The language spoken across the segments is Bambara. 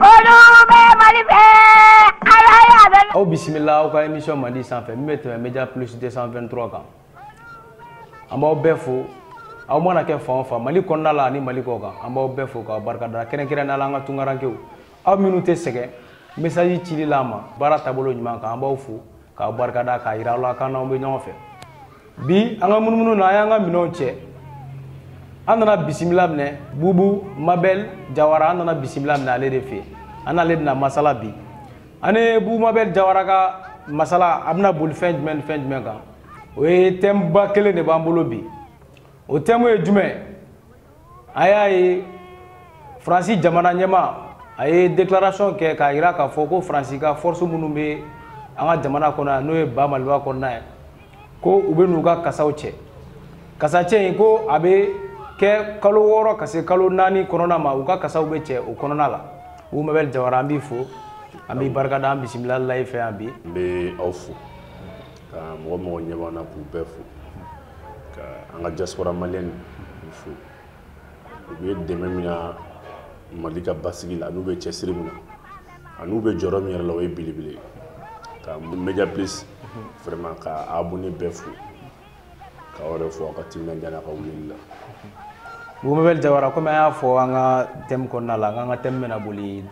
Olu bɛ Mali fɛ, Ala y'a bɛ Aw bisimila aw ka émission Mandi sanfɛ min bɛ tɛmɛ Media Plus 223 kan. An b'aw bɛɛ fo, aw mana kɛ fan o fan Mali kɔnɔna la ani Mali kɔkan, an b'aw bɛɛ fo k'aw barikada kɛrɛnkɛrɛnnenya la an ka tunkarankew. Aw minnu tɛ sɛgɛn message cili la an ma baara taabolo ɲuman kan, an b'aw fo k'aw barikada k'a jira aw la k'an n'aw bɛ ɲɔgɔn fɛ. bi an ka munumunu na an y'an ka minɛnw cɛ an nana bisimila minɛ bubu mabɛl jawara an nana bisimila minɛ ale de fɛ an n'ale bɛna masala bi an ni bubu mabɛl jawara ka masala a bɛna boli fɛn jumɛn ni fɛn jumɛn kan o ye thème ba kelen de b'an bolo bi o thème ye jumɛn an y'a ye faransi jamana ɲɛmaa a ye déclaration kɛ k'a jira k'a fɔ ko faransi ka force minnu bɛ an ka jamana kɔnɔ yan n'o ye ba maliba kɔnɔna ye ko u bɛn'u ka kasaw cɛ kasacɛ in ko a bɛ kɛ kalo wɔɔrɔ ka se kalo naani kɔnɔna ma u ka kasaw bɛ cɛ o kɔnɔna la bubu mabɛl jawara an b'i fo an b'i barikada an bisimilala i fɛ yan bi n bɛ aw fo ka mɔgɔ o mɔgɔ ɲɛ b'an na k'u bɛɛ fo ka an ka diaspora maliyɛn fo u bɛ dɛmɛ min na mali ka basigi la an'u bɛ cɛsiri min na an'u bɛ jɔyɔrɔ min yɛrɛ la o ye belebele ye ka media plus vraiment ka abonné bɛɛ fo k'aw yɛrɛ fo aw ka timinandiya n'aw ka wulili la Bubu Mabɛl Jawara komi an y'a fɔ an ka thème kɔnɔna la an ka thème bɛna boli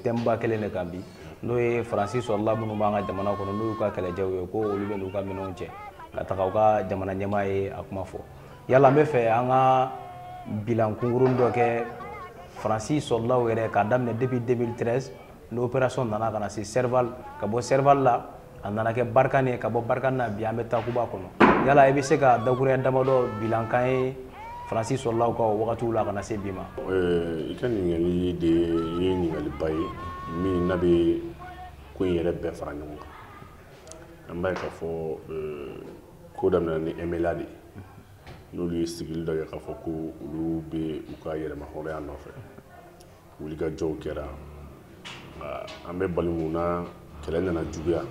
thème ba kelen de kan bi n'o ye faransi soldat minnu b'an ka jamana kɔnɔ n'o y'u ka kɛlɛcɛw ye ko olu bɛn'u ka minɛnw cɛ ka taga u ka jamana ɲɛmaa ye a kuma fɔ yala an b'a fɛ an ka bilan kunkurun dɔ kɛ faransi soldatw yɛrɛ k'a daminɛ depuis 2013 ni opération nana ka na se serval ka bɔ serval la a nana kɛ barkhane ye ka bɔ barkhane na bi an bɛ takuba kɔnɔ yala i bɛ se ka dakuruɲa damadɔ bila a kan an ye faransi soldatw ka wagatiw la ka na se bi ma i ka ɲininkali de ye ɲininkaliba ye min na bɛ ko in yɛrɛ bɛɛ fara ɲɔgɔn kan an b'a ye k'a fɔ ko daminɛna ni MNLA de n'olu ye sigili dɔ kɛ k'a fɔ ko olu bɛ u ka yɛrɛmahɔrɔnya nɔfɛ wulikajɔw kɛra nka an bɛ bali min na kɛlɛ nana juguya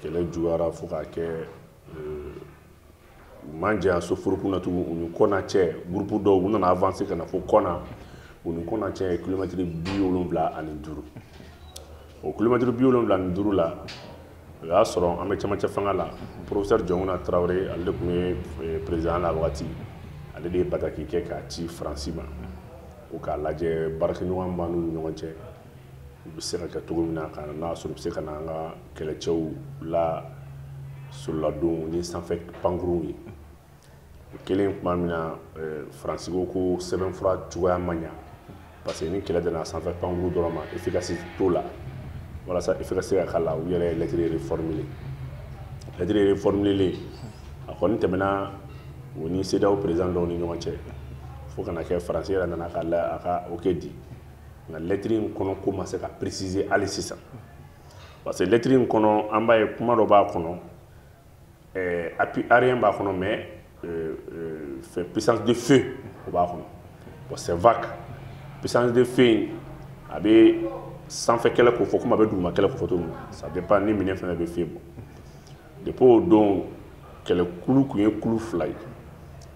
kɛlɛ juguyara fo k'a kɛ euh, u man jan soforo kun na tugun u ni kɔna cɛ gurupu dɔw u nana avanse ka na fo kɔna u ni kɔna cɛ ye kilomɛtiri bi wolonwula ani duuru o kilomɛtiri bi wolonwula ni duuru la o y'a sɔrɔ an bɛ cɛmancɛ fanga la professeur jɔnkunda tarawele ale de tun ye eh, président la wagati ale de ye bataki kɛ k'a ci faransi ma ko k'a lajɛ baarakɛɲɔgɔn b'an n'u ɲɔgɔn cɛ u bɛ se ka kɛ cogo min na ka n'a y'a sɔrɔ u bɛ se ka na an ka kɛlɛcɛw lasololadon ni sanfɛ pankuruw ye o kɛlen tuma min na eh, faransi ko ko sɛbɛnfura cogoya ma ɲa parce que ni kɛlɛ dana sanfɛ pankuru dɔrɔn ma efficacité t'o la walasa efficacité ka k'a la u yɛrɛ ye lɛtiri reformule lɛtiri reformulelen a kɔni tɛmɛna o ni cedeao président dɔw ni ɲɔgɔn cɛ fo ka na kɛ faransi yɛrɛ nana ka la a ka oke di nka lɛtiri in kɔnɔ ko ma se ka préciser hali sisan parce que lɛtiri in kɔnɔ an b'a ye kuma dɔ b'a kɔnɔ eh, appui aérien b'a kɔnɔ mais eh, eh, fɛn puissance de feu o b'a kɔnɔ bon c'est vague puissance de feu in a bɛ sanfɛ kɛlɛ ko fɔ komi a bɛ duguma kɛlɛ ko fɔ cogo min na ça dépend ni minɛn fɛn fɛn bɛ feu bɔ depuis o don kɛlɛkulu tun ye kulu fila ye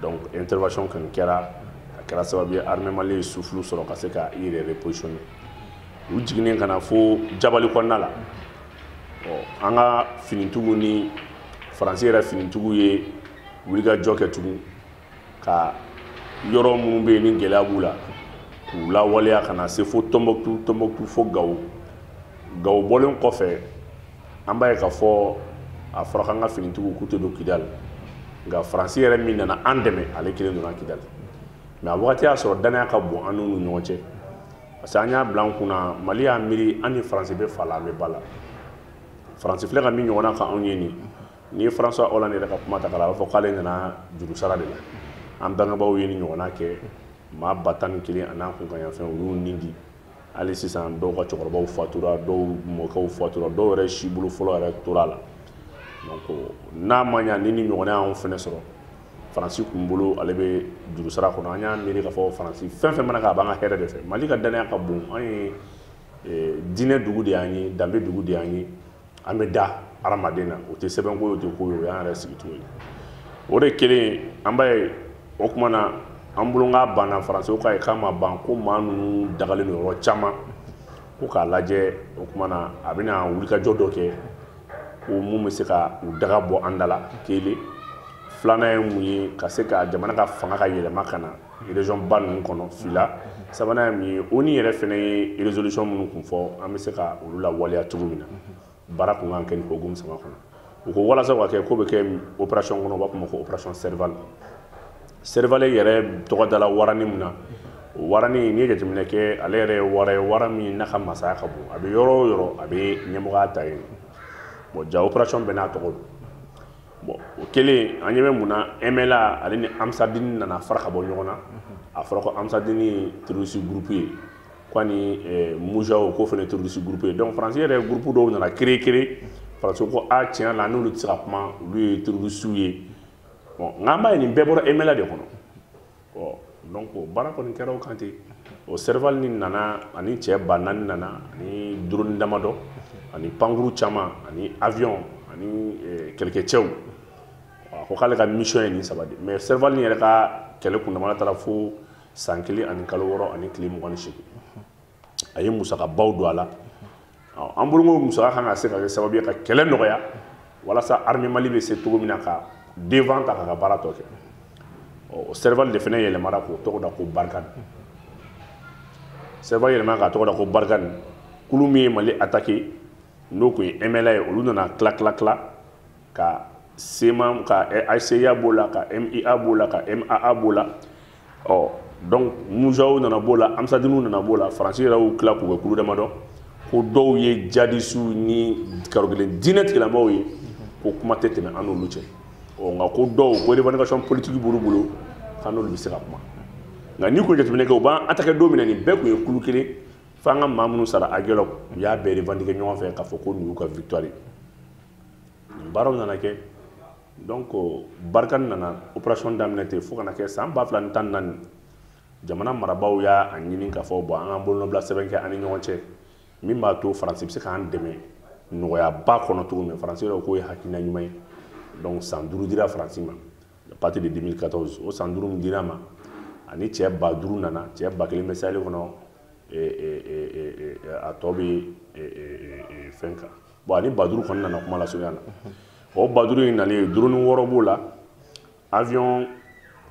donc intervention kɔni kɛra a kɛra sababu ye armée mali ye souffle sɔrɔ ka se ka i yɛrɛ repositionner u jiginnen ka na fo jabali kɔnɔna la an ka finitigiw ni faransi yɛrɛ finitigiw ye wulikajɔ kɛ tugun ka yɔrɔ minnu bɛ yen ni gɛlɛya b'u la k'u lawaleya ka na se fo tɔnbɔkutu tɔnbɔkutu fo gawo gawo bɔlen kɔfɛ an b'a ye k'a fɔ a fɔra k'an ka finitigiw k'u tɛ don kidali nka faransi yɛrɛ min nana an dɛmɛ ale kelen donna kidali mais a wagati y'a sɔrɔ dannaya ka bon an n'u ni ɲɔgɔn cɛ parce que an y'a bila an kun na mali y'a miiri an ni faransi bɛ fa la an bɛ ba la faransi filɛ ka min ɲɔgɔnna k'anw ye nin n'i ye françois hollande yɛrɛ ka kuma ta k'a la a b'a fɔ k'ale nana jurusara de la an bangebaaw ye nin ɲɔgɔnna kɛ maa ba tan ni kelen an'a kunkanyanfɛn u y'u ni di hali sisan dɔw ka cɛkɔrɔbaw fatura dɔw mɔkɛw fatura dɔw yɛrɛ sibolo fɔlɔ yɛrɛ tora a la donc n'a ma ɲa ni nin ɲɔgɔnna y'anw fɛnɛ sɔrɔ faransi kun bolo ale bɛ jurusara kɔnɔ an y'a miiri k'a fɔ faransi fɛn fɛn mana kɛ a b'an ka hɛrɛ de fɛ mali ka dannaya ka bon an ye eh, diinɛ dugu de y'an ye danbe dugu de y'an ye an bɛ da hadamaden na o tɛ sɛbɛnko ye o tɛ ko ye o y'an yɛrɛ sigicogo ye o de kelen an b'a ye o kuma na an bolo k'a banna faransiw k'a ye k'a ma ban ko maa ninnu dagalen don yɔrɔ caman ko k'a lajɛ o kuma na a bɛna wulikajɔ dɔ kɛ ko mun bɛ se ka u daga bɔ an da la kelen filanan ye mun ye ka se ka jamana ka fanga ka yɛlɛma ka na région ba ninnu kɔnɔ fila sabanan ye mun ye onu yɛrɛ fɛnɛ ye résolution minnu kun fɔ an bɛ se ka olu lawaleya cogo min na baara kun kan kɛ nin hokumu saba kɔnɔ u ko walasa ka kɛ ko bɛ kɛ opération kɔnɔ u b'a fɔ ma ko opération serval serval yɛrɛ tɔgɔ dala warani min na o warani n'i ye jateminɛ kɛ ale yɛrɛ ye wara ye wara min n'a ka masaya ka bon a bɛ yɔrɔ o yɔrɔ a bɛ ɲɛmɔgɔya ta yen bon ja opération bɛɛ n'a tɔgɔ don bon o kɛlen an ɲɛ bɛ mun na mla ale ni ansardini nana fara ka bɔ ɲɔgɔn na a fɔra ko ansardini ye terorisi gurupu ye ko ani eh, mujao ko fana terorisi gurupu ye donc faransi yɛrɛ gurupu dɔw nana kɛrɛnkɛrɛn faransi ko a tiɲɛ la an n'olu tɛ se ka kuma olu ye terorisiw ye bon nka an b'a ye nin bɛɛ bɔra mla de kɔnɔ donc baara kɔni kɛra o kan ten o serval nin nana ani cɛ ba naani nana ani drone damadɔ ani pankurun caman ani avion ani eh, kɛlɛkɛcɛw a ko k'ale ka mission ye nin saba de mais serval nin yɛrɛ ka kɛlɛ kundamana taara fo san kelen ani kalo wɔɔrɔ ani tile mugan ni seegin a ye musakabaw don a la an bolo musaka kan ka se ka kɛ sababu ye ka kɛlɛ nɔgɔya walasa armée mali bɛ se cogo min na ka devant ta k'a ka baara tɔ kɛ o serval de fana yɛlɛmara k'o tɔgɔ da ko barikani serval yɛlɛmara k'a tɔgɔ da ko barikani kulu min ye mali attaqué n'o tun ye mla ye olu nana tila tila tila ka CMA ka HCUA b'o la ka MIA b'o la ka MAA b'o la ɔ donc mujaow nana b'o la ansardiniw nana b'o la faransi yɛrɛ y'u tila k'u kɛ kulu damadɔ ko dɔw ye jihadisiw ni karokelen diinɛ tigilamɔgɔw ye ko kuma tɛ tɛmɛ an n'olu cɛ ɔ nka ko dɔw ko revendication politique b'olu bolo k'an n'olu bɛ se ka kuma nka n'i k'o jateminɛ kɛ u b'an attaquer don min na nin bɛɛ tun ye kulu kelen fo an ka maa minnu sara aguelhok u y'a bɛɛ revendiquer ɲɔgɔn fɛ k'a fɔ ko nin y'u ka victoire ye nin baaraw nana kɛ donc barikani nana operation daminɛ ten fo ka na kɛ san ba fila ni tan naani jamana marabaaw y'a ɲini k'a fɔ bon an k'an bolonɔbila sɛbɛn kɛ an ni ɲɔgɔn cɛ min b'a to faransi bɛ se k'an dɛmɛ nɔgɔyaba kɔnɔ cogo min faransi yɛrɛ k'o ye hakilina ɲuman ye donc san duuru dira faransi ma à partir de 2014 o san duuru min dira a ma ani cɛ ba duuru nana cɛ ba kelen bɛ saheli kɔnɔ a tɔ bɛ fɛn kan bon ani ba duuru kɔni nana kuma lasurunya na o ba duuru in nalen duroni wɔɔrɔ b'o la avion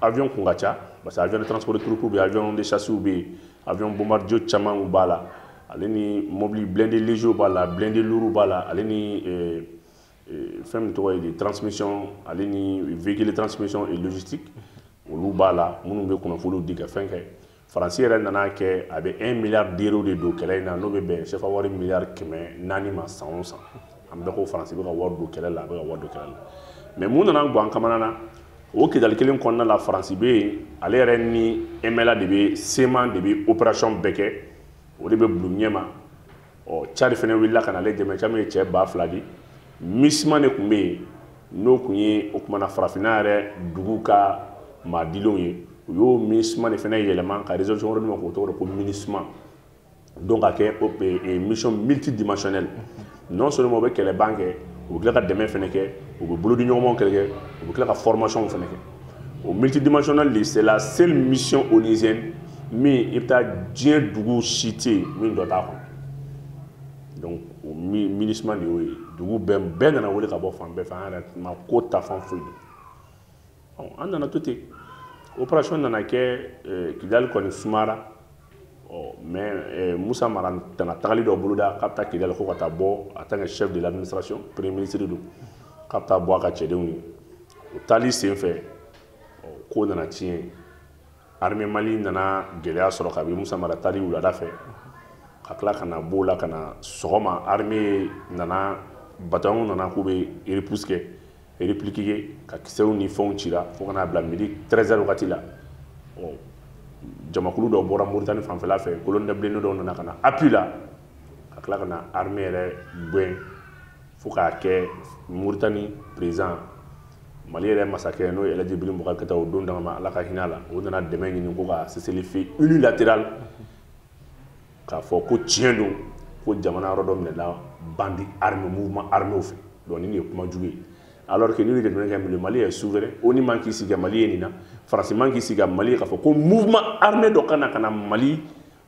avion kun ka ca parce que avion de transport de troupe bɛ avion de chasse bɛ yen avion bombardier caman b'a la ale ni mobili blindé léger b'a la blindé lourd b'a la ale ni euh, euh, fɛn min tɔgɔ ye de transmission ale ni véhicule transmission et logistique olu b'a la minnu bɛ kunnafoniw di ka fɛn kɛ faransi yɛrɛ nana kɛ a bɛ 1 miliyari d'euros de don kɛlɛ in na n'o bɛ bɛn sefa wari miliyari kɛmɛ naani ma san o san an bɛɛ ko faransi bɛ ka wari don kɛlɛ la a bɛ ka wari don kɛlɛ la mɛ mun nana gwan kamana na o kidali kelen kɔnɔna la faransi bɛ yen ale yɛrɛ ni emɛla de bɛ CMA de bɛ operasiyɔn bɛɛ kɛ o de bɛ bulon ɲɛma ɔ cadi fana wulila ka na ale dɛmɛ caman ye cɛ ba fila di misima de tun bɛ yen n'o tun ye o tuma na farafinna yɛrɛ dugu ka maadilenw ye u y'o misima de fana yɛlɛma ka résolution wɛrɛ d'u ma k'o tɔgɔ da ko minusima donc a kɛ e, e, mission multidimensionnelle non seulement u bɛ kɛlɛban kɛ u bɛ tila ka dɛmɛ fana kɛ u bɛ bolodiɲɔgɔnmaw kɛ u bɛ tila ka formation fana kɛ o multidimensionnel de c'est la seule mission onusienne min i bɛ taa diɲɛ dugu si tɛ yen min dɔ t'a kɔnɔ donc o minusima de y'o ye dugu bɛɛ nana wele ka bɔ fan bɛɛ fɛ an yɛrɛ mako t'a fan foyi donc an nana to ten opération nana kɛ kidali kɔni sumara mais musa mara nana tagali dɔ boloda k'a bɛ taa kidali ko ka taa bɔ en tant que chef de l'administration premier ministre don k'a bɛ taa bɔ a ka cɛdenw ye o taali sen fɛ ko nana tiɲɛ armée mali nana gɛlɛya sɔrɔ kabini musa mara taali wulada fɛ ka tila ka na b'o la ka na sɔgɔma armée nana bataillon nana k'u bɛ repousse kɛ répliquer ka kisɛw ni fɛnw cira fo ka n'a bila midi 13 heures wagati la jamakulu dɔ bɔra moritani fanfɛla fɛ colonne de blindés dɔw nana ka na appui la ka tila ka na armée yɛrɛ gɛn fo k'a kɛ moritani président mali yɛrɛ masakɛ n'o ye elɛji ibrahim bubakari keyita o don dama ma ala ka hinɛ a la o nana dɛmɛ ɲini ko ka cessez-le-feu unilatéral k'a fɔ ko tiɲɛ don ko jamana yɔrɔ dɔ minɛla bandit armé mouvement armé fɛ donc nin de ye kuma jugu ye alors que ni jateminɛ kɛ Mali est souverain ONU man k'i sigi Mali ye nin na Faransi man k'i sigi Mali ye k'a fɔ ko mouvement armé dɔ ka na ka na Mali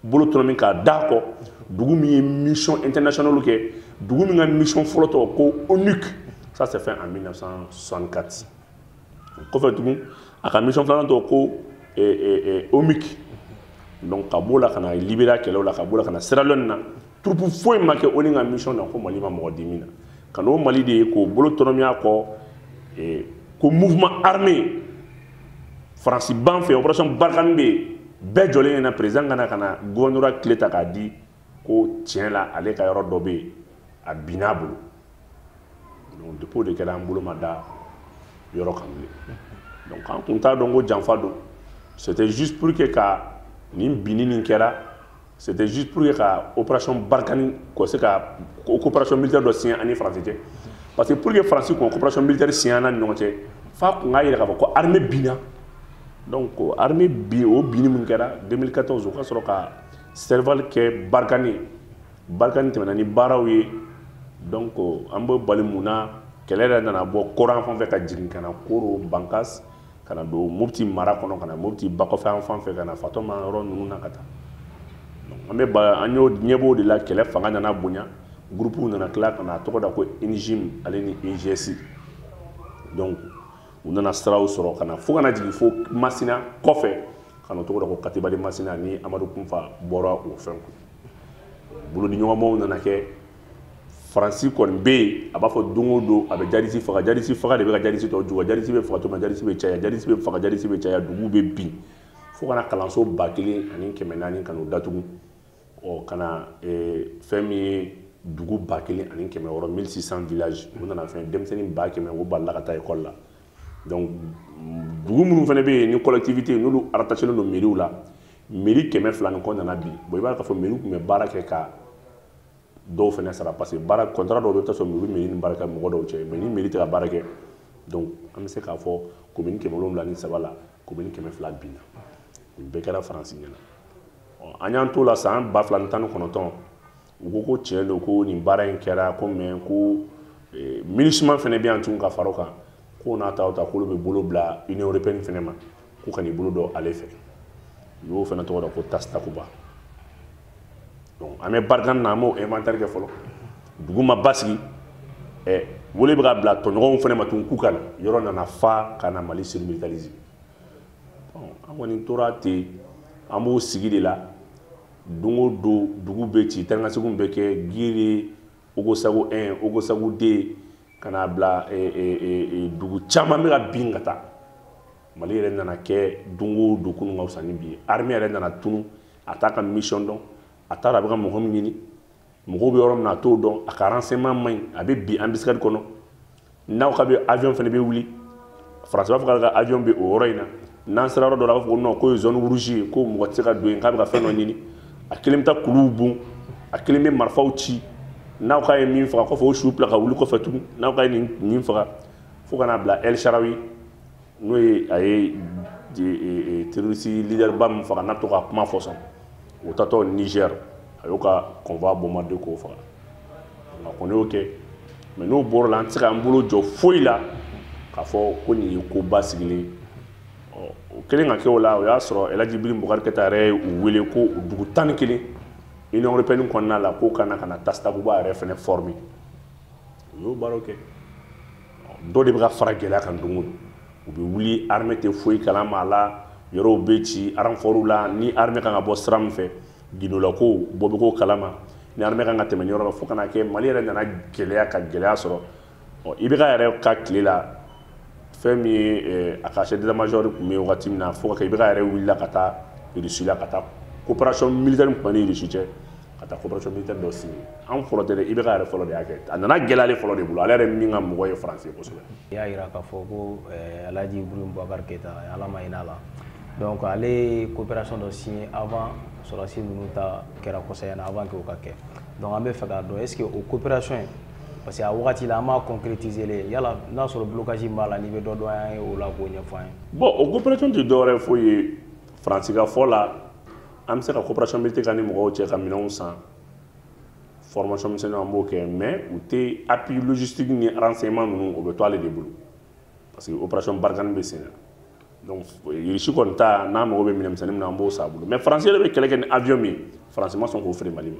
bolo tɔnɔmi k'a da kɔ dugu min ye mission internationale kɛ dugu min ka mission fɔlɔ tɔgɔ ko ONUC ça c'est fait en 1964 kɔfɛ tugun a ka mission filanan tɔgɔ ko omic donc ka b'o la ka na libéria kɛlɛw la ka b'o la ka na sierra leone na troupe foyi ma kɛ ONU ka mission na ko mali ma mɔgɔ di min na ka n'o mali de ye k'o bolo tɔnɔmi a kɔ ko mouvement armé faransi b'an fɛ opération barikani bɛ yen bɛɛ jɔlen ɲɛna président ka na gouvernorat clé ta k'a di ko tiɲɛ la ale ka yɔrɔ dɔ bɛ yen a binna a bolo donc depuis o de kɛra an bolo ma da yɔrɔ kan bilen donc an tun t'a dɔn ko janfa don c'était juste pour que ka nin binni nin kɛra c'était juste pour que ka opération barikani k'o se ka coopération militaire dɔ signé an ni faransi cɛ parce que pour que faransi k'o coopération militaire signé an ni ɲɔgɔn cɛ f'a tun k'a yira k'a fɔ ko armée binna donc armée bin o binni min kɛra 2014 o ka sɔrɔ ka serval kɛ barikani barkhane tɛmɛna ni baaraw ye donc an bɛ bali mun na kɛlɛ yɛrɛ nana bɔ kɔrɔn fan fɛ ka jigin ka na koro bankas ka na don mopti mara kɔnɔ ka na mopti bakɔfɛ an fan fɛ ka na fatɔma yɔrɔ ninnu na ka taa an bɛ an y'o ɲɛbɔ de la kɛlɛ fanga nana bonya gurupuw nana tila ka na a tɔgɔ da ko jnim ale ni eigs donc u nana siraw sɔrɔ ka na fo ka na jigin fo masina kɔfɛ ka na o tɔgɔ da ko katiba masina ni amadu kufa bɔra o fɛn kun bolodiɲɔgɔnmaw nana kɛ faransi kɔni bɛ yen a b'a fɔ don o don a bɛ jadisi faga jadisi faga de bɛ ka jadisi tɔ juguya jadisi bɛ faga tuma jadisi bɛ caya jadisi bɛ faga jadisi bɛ caya duguw bɛ bin fo ka na kalanso ba kelen ani kɛmɛ naani ka n'u datugu ɔ ka na fɛn min ye dugu ba kelen ani kɛmɛ wɔɔrɔ 1600 villages u nana fɛn denmisɛnnin ba kɛmɛ o balila ka taa ekɔli la donc dugu minnu fana bɛ yen ni collectivité n'olu rattachélen don mairie la mairie kɛmɛ fila ni kɔ nana bin bon i b'a ye k'a fɔ mairie tun bɛ baara kɛ ka dɔw fana sara parce que baara contrat dɔw bɛ taa sɔrɔ mairie mairie ni baara kɛ mɔgɔ dɔw cɛ mais ni mairie tɛ ka baara kɛ donc an bɛ se k'a fɔ commune kɛmɛ wolonwula ni saba la commune kɛmɛ fila binna nin bɛɛ kɛra faransi ɲɛna an y'an t'o la san ba fila ni tan ni kɔnɔntɔn u ko ko tiɲɛ don ko nin baara in kɛra ko mais ko eh, minusma fana bɛ yan tun ka fara o kan k'o n'a ta o ta k'olu bɛ bolo bila union européenne fana ma k'u ka n'i bolo don ale fɛ u y'o fana tɔgɔ da ko task takuba donc an bɛ barkhane na an b'o inventaire kɛ fɔlɔ dugu ma basigi ɛ eh, wele bɛ ka bila tɔɲɔgɔnw fana ma tun k'u ka na yɔrɔ nana fa ka na mali surmilitariser an kɔni tora ten an b'o sigi de la don o don dugu bɛ ci taanikaseginw bɛ kɛ giri ogosago 1 ogosago 2 ka n'a bila e, e, e, dugu caman bɛ ka bin ka taa mali yɛrɛ nana kɛ don o don kunun ka fisa ni bi ye armée yɛrɛ nana tunu a t'a ka mission dɔn a t'a dɔn a bɛ ka mɔgɔ min ɲini mɔgɔw bɛ yɔrɔ min na a t'o dɔn a ka renseignement man ɲi a bɛ bin embuscade kɔnɔ n'aw ka bɛ avion fana bɛ wuli faransi b'a fɔ k'ale ka avion bɛ o yɔrɔ in na n'an sera yɔrɔ dɔ la a b'a fɔ ko non k'o ye zone rouge ye ko mɔgɔ tɛ se ka don yen k'a bɛ ka fɛn dɔ ɲini a kelen bɛ taa kuluw bon a kelen bɛ marifaw ci n'aw k'a ye min faga kɔfɛ o su bila ka wuli kɔfɛ tugun n'aw k'a ye nin nin faga fo ka n'a bila el saharawi n'o ye a ye e, e, terroriste leaderba min faga n'a to ka kuma fɔ sɔn o taatɔ niger a y'o ka convoi bombarder k'o faga nka kɔni y'o kɛ mais n'o bɔr'o la an tɛ se k'an bolo jɔ foyi la k'a fɔ ko nin ye koba sigilen ɔ o kɛlen ka kɛ o la o y'a sɔrɔ elaji ibrahim boubacar keïta yɛrɛ ye u wele ko dugu tan ni kelen union européenne kɔnɔna la k'u ka na ka na task takuba yɛrɛ fana former u y'o baaraw kɛ dɔ de bɛ ka fara gɛlɛya kan don o don u bɛ wuli armée tɛ foyi kalama a la yɔrɔw bɛ ci renforts la ni armée kan ka bɔ sira min fɛ gindolakow bɔ bɛ k'o kalama ni armée kan ka tɛmɛ ni yɔrɔ la fo ka n'a kɛ mali yɛrɛ nana gɛlɛya ka gɛlɛya sɔrɔ ɔ IBK yɛrɛ ka tile la fɛn min ye eh, a ka chef d'état major tun bɛ yen wagati min na fo ka kɛ IBK yɛrɛ wulila ka taa russie la ka taa coopération militaire min tun b'an ni russie cɛ ka taa coopération militaire dɔ signé an fɔlɔ tɛ dɛ IBK yɛrɛ fɔlɔ de y'a kɛ a nana gɛlɛya ale fɔlɔ de bolo ale yɛrɛ min ka mɔgɔ ye faransi kosɛbɛ i y'a jira k'a fɔ ko eh, alhaji ibrahim bubakar keyita ala ma hin'a la donc ale ye coopération dɔ signé avant sɔrɔdasi ninnu ta kɛra kosɛbɛ na avant que o ka kɛ donc an bɛ fɛ k'a dɔn est ce que o coopération in parce que a wagati la an m'a concrétiser le yala n'a sɔrɔ blocage min b'a la n'i bɛ dɔ dɔn an ye o la k'o ɲɛfɔ an ye bon o coopération tɛ dɔwɛrɛ foyi ye faransi ka fɔ la an bɛ se ka coopération militaire kɛ ni mɔgɔw cɛ ka minɛnw san formation misɛnninw an b'o kɛ mais u tɛ appui logistique ni renseignement ninnu o bɛ to ale de bolo parce que opération barkhane bɛ sen na donc irisi kɔni ta n'an mago bɛ minɛn misɛnnin min na an b'o san a bolo mais faransi yɛrɛ bɛ kɛlɛ kɛ ni avion min ye faransi ma sɔn k'o feere mali ma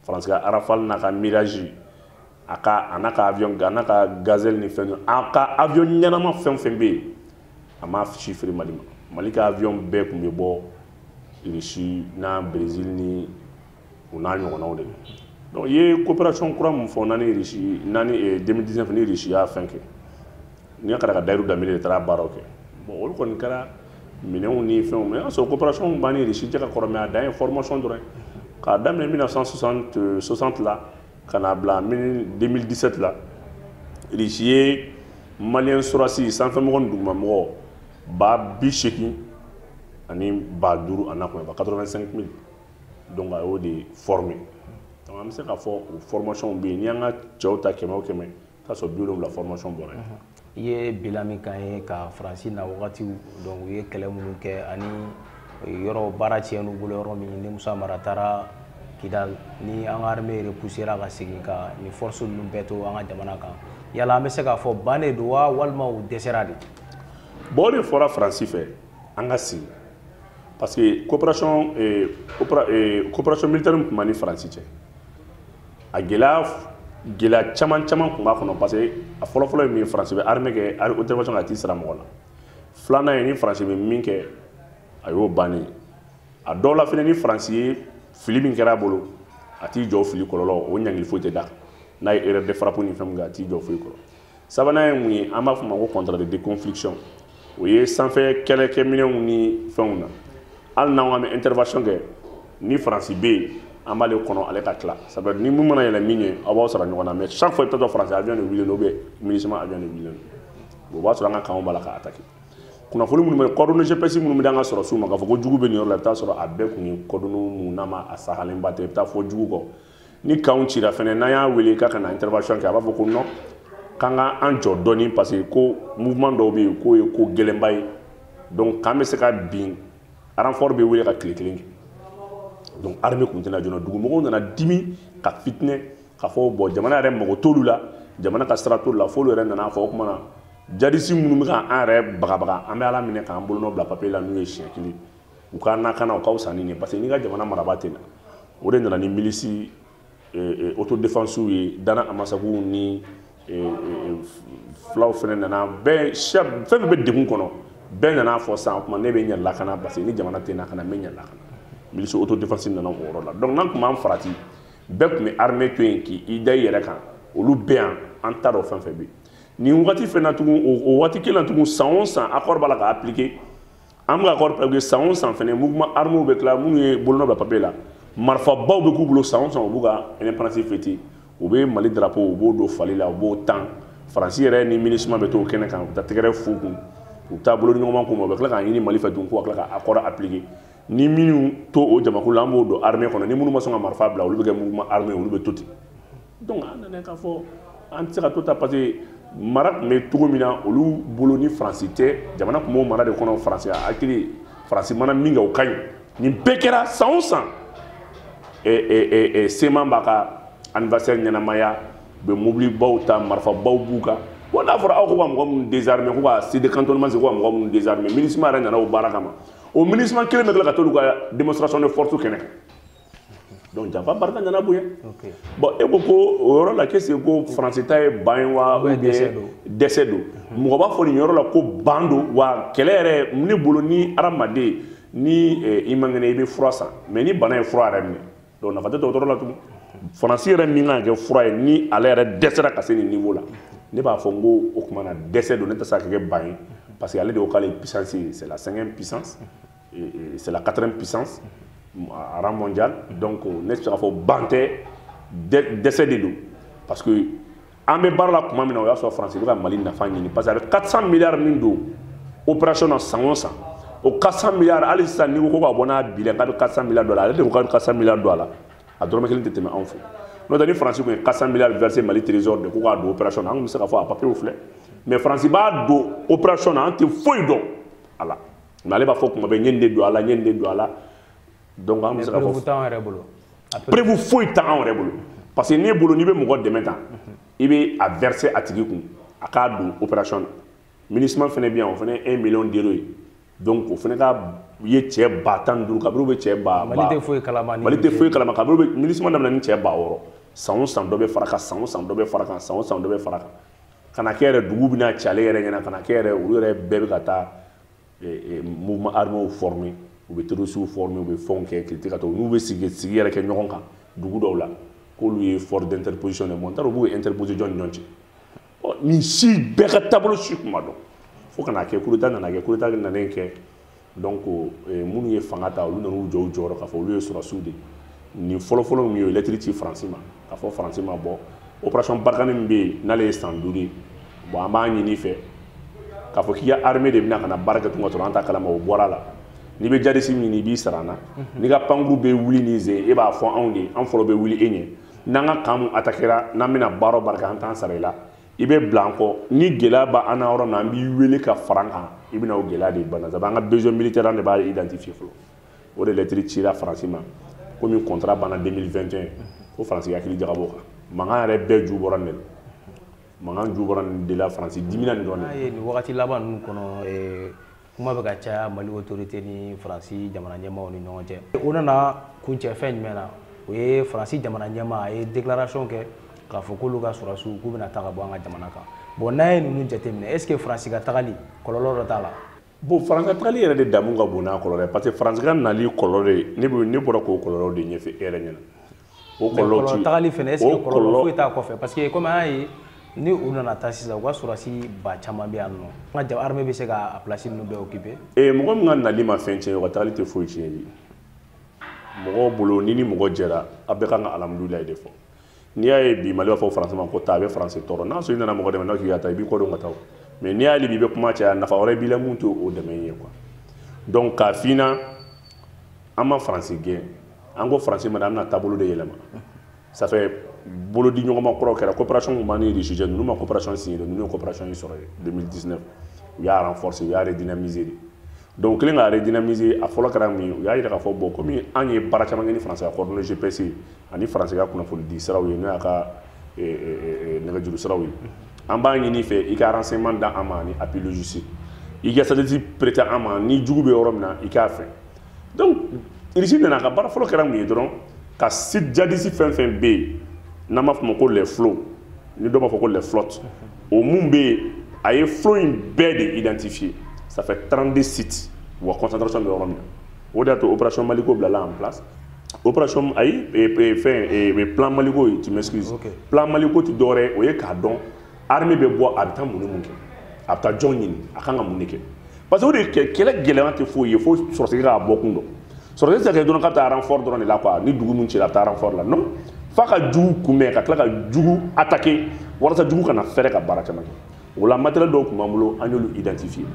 faransi ka rafale n'a ka mirage a ka a n'a ka avion a n'a ka gazelle ni fɛn a ka avion ɲɛnama fɛn fɛn bɛ yen a m'a si feere mali ma mali ka avion bɛɛ tun bɛ bɔ irisi n'a brésil ni u n'a ɲɔgɔnnaw de donc i ye coopération kura min fɔ n'a ni irisi n'a ni 2019 ni irisi y'a fɛn kɛ n kɔrɔkɛ dayiru danbele de taara baaraw kɛ bon olu kɔni kɛra minɛnw ni fɛnw mais o y'a sɔrɔ coopération b'an ni irisi cɛ ka kɔrɔ mais a dan ye formation dɔrɔn k'a daminɛ 1960 la ka n'a bila 2017 la irisi ye maliyɛn sɔrɔdasi sanfɛmɔgɔ ni dugumamɔgɔ ba bi seegin ani ba duuru a na kɔnɔ ba 85 mille donc a y'o de former donc an bɛ se k'a fɔ o formation bɛ yen n'i y'an ka cɛw ta kɛmɛ o kɛmɛ k'a sɔrɔ bi wolonwula formation bɔra yen i ye bila min kan ye ka faransi na wagatiw donc u ye kɛlɛ minnu kɛ ani yɔrɔ baara tiɲɛn'u bolo yɔrɔ min ni musa mara taara kidal ni an ka armée repoussera ka segin ka nin force ninnu bɛɛ to an ka jamana kan yala an bɛ se k'a fɔ ban de don wa walima u dɛsɛra de bon o de fɔra faransi fɛ an ka sigi parce que coopération eh, eh, coopération militaire min tun b'an ni faransi cɛ a gɛlɛya gɛlɛya caman caman tun b'a kɔnɔ parce que a fɔlɔfɔlɔ ye min ye faransi bɛ armée kɛ intervention k'a t'i sara mɔgɔ la filanan ye ni faransi bɛ min kɛ a y'o bannen a dɔw la fana ni faransi ye fili min kɛra a bolo a t'i jɔ fili kɔlɔlɔ o ɲangili foyi tɛ da n'a ye erreur de frappe ni fɛn min kɛ a t'i jɔ foyi kɔrɔ sabanan ye mun ye an b'a fɔ ma ko contrat de déconfliction o ye sanfɛ kɛlɛkɛminɛnw ni fɛnw na hali n'an k'an bɛ intervention kɛ ni faransi bɛ yen an b'ale kɔnɔ ale ka tila sabu ni mun mana yɛlɛ min ye aw b'aw sara ɲɔgɔn na mais chaque fois i bɛ taa sɔrɔ faransi avion de wulilen don ou bien minusma avion de wulilen don o b'a sɔrɔ an ka kanw b'a la ka attaquer kunnafoni minnu bɛ coordonnées gps minnu bɛ d'an ka sɔrɔsiw ma k'a fɔ ko jugu bɛ nin yɔrɔ la i bɛ taa sɔrɔ a bɛɛ tun ye coordonnées mun n'a ma a sahalenba tɛ i bɛ taa fɔ jugu kɔ ni kanw cira fɛnɛ n'an y'a wele k'a ka na intervention kɛ a b'a fɔ ko non k'an ka an jɔ dɔɔni parce que ko mouvement dɔw bɛ yen k'o ye ko gɛlɛnba ye donc k'an bɛ se ka bin renfort bɛ wele ka tile kelen kɛ donc armée tun tɛ na joona dugumɔgɔw nana dimi ka fitinɛ ka fɔ bon jamana yɛrɛ mago t'olu la jamana ka sira t'olu la f'olu yɛrɛ nana fɔ o tuma na jadisi minnu bɛ ka an yɛrɛ bagabaga an bɛ ala minɛ k'an bolonɔ bila papier la n'u ye siɲɛ kelen u k'an lakana u ka fisa ni nin ye parce que n'i ka jamana marabaa tɛ na o de nana ni milisi autodéfensew ye dana amasaguw ni fulaw fana nana bɛɛ fɛn fɛn bɛ degun kɔnɔ bɛɛ nana fɔ sisan o tuma ne bɛ n yɛrɛ lakana parce que ni jamana tɛ n lakana n bɛ n yɛrɛ lakana milisi autodéfense nana o yɔrɔ la donc n'an tun m'an farati bɛɛ tun bɛ armée to yen k'i da i yɛrɛ kan olu bɛɛ yan an t'a dɔn fɛn fɛn bɛ yen nin wagati fɛnɛ tugun o waati kelen na tugun san o san accord b'a la ka appliquer an bɛ ka accord appliquer san o san fɛnɛ mouvement armé bɛ tila minnu ye bolonɔ bila papier la marifabaw bɛ k'u bolo san o san u b'u ka indépendance fêter u bɛ mali drapeau u b'o don fali la u b'o tan faransi yɛrɛ ni minusma bɛ t'o kɛnɛ kan u bɛ taa tɛgɛrɛ f'u kun u bɛ taa bolodiɲɔgɔnma k'u ma u bɛ tila k'a ɲini mali fɛ tugun ko ka tila ka accord appliquer ni minnu to o jamakulu la an b'o don armée kɔnɔ ni minnu ma sɔn ka marifa bila olu bɛ kɛ mouvement armé olu bɛ to ten donc an nana k'a fɔ an tɛ se ka to tan parce que mara tun bɛ cogo min na olu bolo ni faransi tɛ jamana tun b'o mara de kɔnɔ faransi a hakili faransi mana min kɛ o ka ɲi nin bɛɛ kɛra san o san cma b'a ka anniversaire ɲɛnamaya u bɛ mobilibaw ta marifabaw b'u kan bon n'a fɔra aw ko ka mɔgɔ minnu désarmer ko ka site de cantonnement c'est ko ka mɔgɔ minnu désarmer minusma yɛrɛ nana o baara kama o minusma kelen bɛ tila ka t'olu ka démonstration de force kɛnɛ kan donc janfa barika nana bonya bon e ko ko o yɔrɔ la k'est-ce que faransi ta ye ban ye wa ou bien dɛsɛ don mɔgɔ b'a fɔ nin yɔrɔ la ko ban don wa kɛlɛ yɛrɛ ne bolo ni hadamaden ni eh, i man kɛnɛ i bɛ fura san mais ni bana ye fura yɛrɛ minɛ donc nafa tɛ dɔgɔtɔrɔ la tugun faransi yɛrɛ min kan ka kɛ fura ye ni ale yɛrɛ dɛsɛra ka se nin niveau la ne b'a fɔ n ko o tuma na dɛsɛ don nin tɛ se ka kɛ ban ye parce que ale de ko k'ale ye puissance ye c'est la cinquième puissance c'est la quatrième puissance à rang mondial donc euh, ne tɛ se k'a fɔ ban tɛ dɛsɛ de don parce que an bɛ baara la tuma min na o y'a sɔrɔ faransi bɛ ka mali nafa ɲini parce que a bɛ 400 milliards min don opération na san o san o 400 milliards hali sisan n'i ko ko ka bɔ n'a bilan k'a bɛ 400 milliards don a la ale de ko k'a bɛ 400 milliards don a la a dɔrɔmɛ kelen tɛ tɛmɛ anw fɛ n'o tɛ ni faransi tun ye 400 milliards versé mali trésor de ko k'a don opération na an tun bɛ se k'a fɔ a papiyew filɛ mais faransi b'a don opération na an tɛ foyi dɔn a la mais ale b'a fɔ tuma bɛɛ n ye nin de don a la n ye nin de don a la donc an bɛ se ka fɔ preuve foyi t'an yɛrɛ bolo parce que ne bolo n'i bɛ mɔgɔ dɛmɛ tan i bɛ a verser a tigi kun a k'a don opération na minusma fana bɛ yan o fana ye 1 million d'euro ye donc o fana ka ye cɛ ba tan ni duuru kabiri u bɛ cɛ ba mali tɛ foyi kalama mali tɛ foyi kalama kabiri u bɛ minusma daminɛ ni cɛ ba wɔɔrɔ san o san dɔ bɛ fara kan san o san dɔ bɛ fara kan san o san dɔ bɛ fara kan ka na kɛ yɛrɛ dugu bɛna ci ale yɛrɛ ɲɛna ka na kɛ yɛrɛ olu yɛrɛ bɛɛ bɛ ka taa mouvement armé formé u bɛ terrorisiw formé u bɛ fɛnw kɛ kiri ka to n'u bɛ sigi sigi yɛrɛ kɛ ɲɔgɔn kan dugu dɔw la k'olu ye force d'interposition de ye n t'a dɔn k'u ye interposition jɔn ni ɲɔgɔn cɛ ɔ nin si bɛɛ ka taabolo si tun ma dɔn fo ka na kɛ coup d'état nana kɛ coup d'état nalen kɛ donc minnu ye fanga ta olu nan'u jɔ u jɔyɔrɔ k'a fɔ olu ye sɔrɔdasiw de ye nin fɔlɔfɔlɔ min ye o ye lɛtiri ci faransi ma k'a fɔ faransi ma bon opération barkhane min bɛ yen n'ale ye san duuru ye bon an b'a ɲini i fɛ k'a fɔ k'i ka armée de bɛna ka na baara kɛ tun ka sɔrɔ an t'a kalama o bɔra la n'i bɛ jihadisi ɲini i b'i sara an na n'i ka pankurun bɛ wuli ni zen e b'a fɔ anw de an fɔlɔ bɛ wuli e ɲɛ n'an ka camp min attaquera n'an bɛna baara o baara kɛ an t'an sara i la i bɛ bila an kɔ ni gɛlɛya b'an na yɔrɔ min na an b'i wele ka fara an kan i bɛna o gɛlɛya de bana sabu an ka besoin militaire an de b'a identifier fɔlɔ o de lɛtiri cira faransi ma komi kɔntara banna 2021 ko faransi k'i hakili jagabɔ a kan mankan yɛrɛ bɛɛ ju bɔra nin de la mankan ju bɔra nin de la faransi dimina nin dɔrɔn de ye nin wagati laban ninnu kɔnɔ eh, kuma bɛ ka caya mali autorité ni faransi jamana ɲɛmaaw ni ɲɔgɔn cɛ o nana kuncɛ fɛn jumɛn na o ye faransi jamana ɲɛmaa a ye déclaration kɛ k'a fɔ k'olu ka sɔrɔsiw k'u bɛna taa ka bɔ an ka jamana kan bon n'an ye ninnu jateminɛ est ce que faransi ka tagali kɔlɔlɔ dɔ t'a la bon faransi ka tagali yɛrɛ de damu ka bon n'a kɔlɔlɔ ye parce que faransi ka nali kɔlɔlɔ de ne bɛ ne bɔra k'o kɔlɔlɔ de ɲɛfɛ e yɛrɛ ɲɛna o kɔlɔlɔ ti tagali fɛnɛ est ce que kɔlɔlɔ foyi t'a kɔfɛ parce que comme an y'a ye ni u nana taa sisan u ka sɔrɔdasi ba caman bɛ yan nord an ka jamana armée bɛ se ka a place ninnu bɛɛ occuper ee eh, mɔgɔ min ka nali ma fɛn tiɲɛ o ka tagali tɛ foyi tiɲɛ ye mɔgɔ bolo ni ni mɔgɔ jɛra a bɛɛ kan ka alhamdulilayi de fɔ n'i y'a ye bi mali b'a fɔ faransi ma ko taa a bɛ faransi tɔɔrɔ n'a sɔrɔ i nana mɔgɔ dɛmɛ n'a k'i ka taa i b'i kɔdon ka taa mais n'i y'ale bi i bɛ kuma caya nafa wɛrɛ b'i la min t'o dɛmɛ ye quoi donc k'a f'i ɲɛna an ma faransi gɛn an ko faransi ma an bɛna taabolo de yɛlɛma ça fait bolodi ɲɔgɔnma kɔrɔ kɛra coopération tun b'an ni russie cɛ ninnu ma coopération signé dɛ ninnu ye coopération in sɔrɔ yen 2019 u y'a renforcer u y'a redynamiser de donc u kɛlen k'a redynamiser a fɔlɔ kɛra min ye u y'a yira k'a fɔ bon komi an ye baara caman kɛ ni faransi ka coordonnées gps ani faransi ka kunnafonidi siraw ye n'o y'a ka eh, eh, eh, nɛgɛjuru siraw ye an b'a ɲini i fɛ i ka renseignement da an ma ani appui logistique i ka satellite prêter an ma ni jugu bɛ yɔrɔ min na i k'a fɔ donc irisi nana a ka baara fɔlɔ kɛra mun ye dɔrɔn ka site jadisi fɛn fɛn bɛ yen n'an b'a fɔ o ma ko les flots ni dɔ b'a fɔ ko les flottes o mun bɛ yen a ye flot in bɛɛ de identifier ça fait 32 sites wa concentration bɛ yɔrɔ min na o de y'a to opération maliko bilala en place opération ayi fɛn plan maliko tu m'excuses plan maliko tɛ dɔwɛrɛ o ye k'a dɔn armée bɛ bɔ a bɛ taa mun ni mun kɛ a bɛ taa jɔn ɲini a kan ka mun de kɛ parce que o de kɛ kɛlɛ gɛlɛya tɛ foyi ye fo sɔrɔdasi k'a bɔ kun dɔn sɔrɔdasi tɛ se ka kɛ dɔrɔn k'a bɛ taa renfort dɔrɔn de la quoi ni dugu min cira a bɛ taa renfort la non f'a ka jugu kunbɛn ka tila ka jugu attaquer walasa jugu kana fɛrɛ ka baara caman kɛ o la matériel dɔw tun b'an bolo an y'olu identifier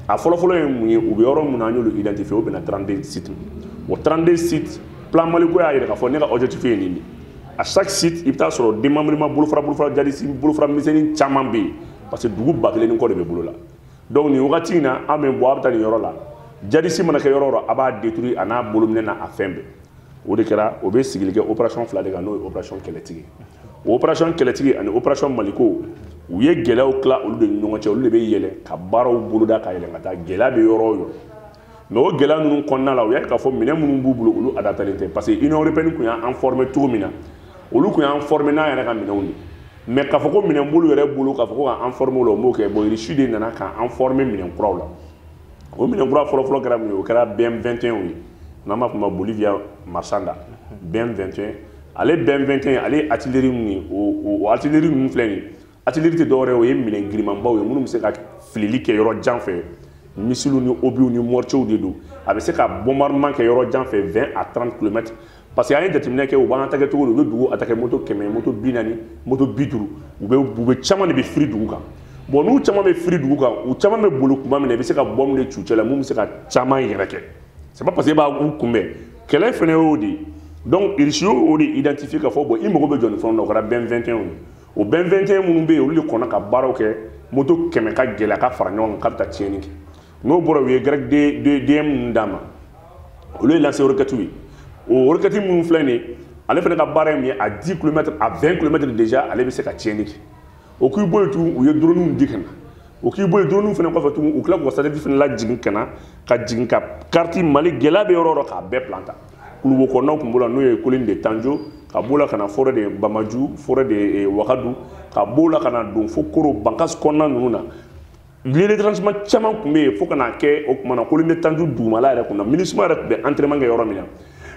a fɔlɔfɔlɔ ye mun ye u bɛ yɔrɔ min na an y'olu identifier o bɛnna 32 sites o 32 sites plan maliko y'a yira k'a fɔ ne ka objectif ye nin de à chaque site i bɛ taa sɔrɔ démembrement bolofara bolofara jadisi bolofara misɛnnin caman bɛ yen parce que dugu ba kelen ni kɔ de bɛ bolo la donc nin wagati in na armée bɛ bɔ a bɛ taa nin yɔrɔ la jadisi mana kɛ yɔrɔ o yɔrɔ a b'a détruire a n'a bolominɛn n'a a fɛn bɛɛ o de kɛra o bɛ sigili kɛ opération fila de kan n'o ye opération kɛlɛtigi o opération kɛlɛtigi ani opération maliko u ye gɛlɛyaw tila olu de ni ɲɔgɔn cɛ olu de bɛ yɛlɛ ka baaraw boloda ka yɛlɛ ka taa gɛlɛya bɛ yɔrɔ o yɔrɔ mais o gɛlɛya ninnu kɔnɔna la u y'a k'a fɔ minɛn minnu b'u bolo olu adaptalen tɛ parce que union européenne tun y'an former cogo min na olu tun y'an former n'an yɛrɛ ka minɛnw de mais k'a fɔ ko minɛn b'olu yɛrɛ bolo k'a fɔ ko k'an former o la u m'o kɛ bon irisi de nana k'an former minɛn kuraw la o minɛn kura fɔlɔfɔlɔ kɛra mun ye o kɛra bm 21 ye n'an b'a fɔ ma bolivia marsanda bm 21 ale bm 21 ale ye artillerie min ye o artillerie ninnu filɛ nin ye artillerie tɛ dɔwɛrɛ o ye minɛn girimanbaw ye minnu bɛ se ka filili kɛ yɔrɔ jan fɛ missile ni obiw ni mortierw de don a bɛ se ka bombardement kɛ yɔrɔ jan fɛ 20 à 30 kilomètres parce que an ye jateminɛ kɛ u b'an attaquer cogo di u bɛ dugu attaquer moto kɛmɛ moto bi naani moto bi duuru u bɛ u bɛ caman de bɛ firi dugu kan bon n'u caman bɛ firi dugu kan u caman bɛ boli kuma min na i bɛ se ka bombe de c'u cɛ la min bɛ se ka caman yɛrɛkɛ c'est pas parce que i b'a u kunbɛn kɛlɛ fana y'o de ye donc irisi y'o de identifier k'a fɔ bon i mago bɛ jɔ nin fɛnw na o kɛra bm 21 ye o bm 21 minnu bɛ yen olu de kɔnna ka baaraw kɛ moto kɛmɛ ka gɛlɛn a ka fara ɲɔgɔn kan k'a bɛ taa tiɲɛni kɛ n'o bɔra u ye grec dm ninnu d'an ma olu ye lance-roquettew ye o roquette minnu filɛ nin ye ale fana ka baara ye min ye à 10 kilomètres à 20 kilomètres déjà ale bɛ se ka tiɲɛni kɛ o k'i bɔ yen tugun u ye droniw di ka na o k'i bɔ yen droniw fana kɔfɛ tugun u tila k'u ka satellite fana lajigin ka na ka jigin ka carte mali gɛlɛya bɛ yɔrɔ o yɔrɔ k'a bɛɛ plan ta kuluwo kɔnɔnaw tun b'o la n'o ye colline de tanjo ka b'o la ka na forêt de bamaju forêt de wakadu ka b'o la ka na don fo koro bankasi kɔnɔna ninnu na lieu de tranchement caman tun bɛ yen fo ka n'a kɛ o tuma na colline de tanjo dugumala yɛrɛ kun na minusma yɛrɛ tun bɛ entraînement kɛ yɔrɔ min na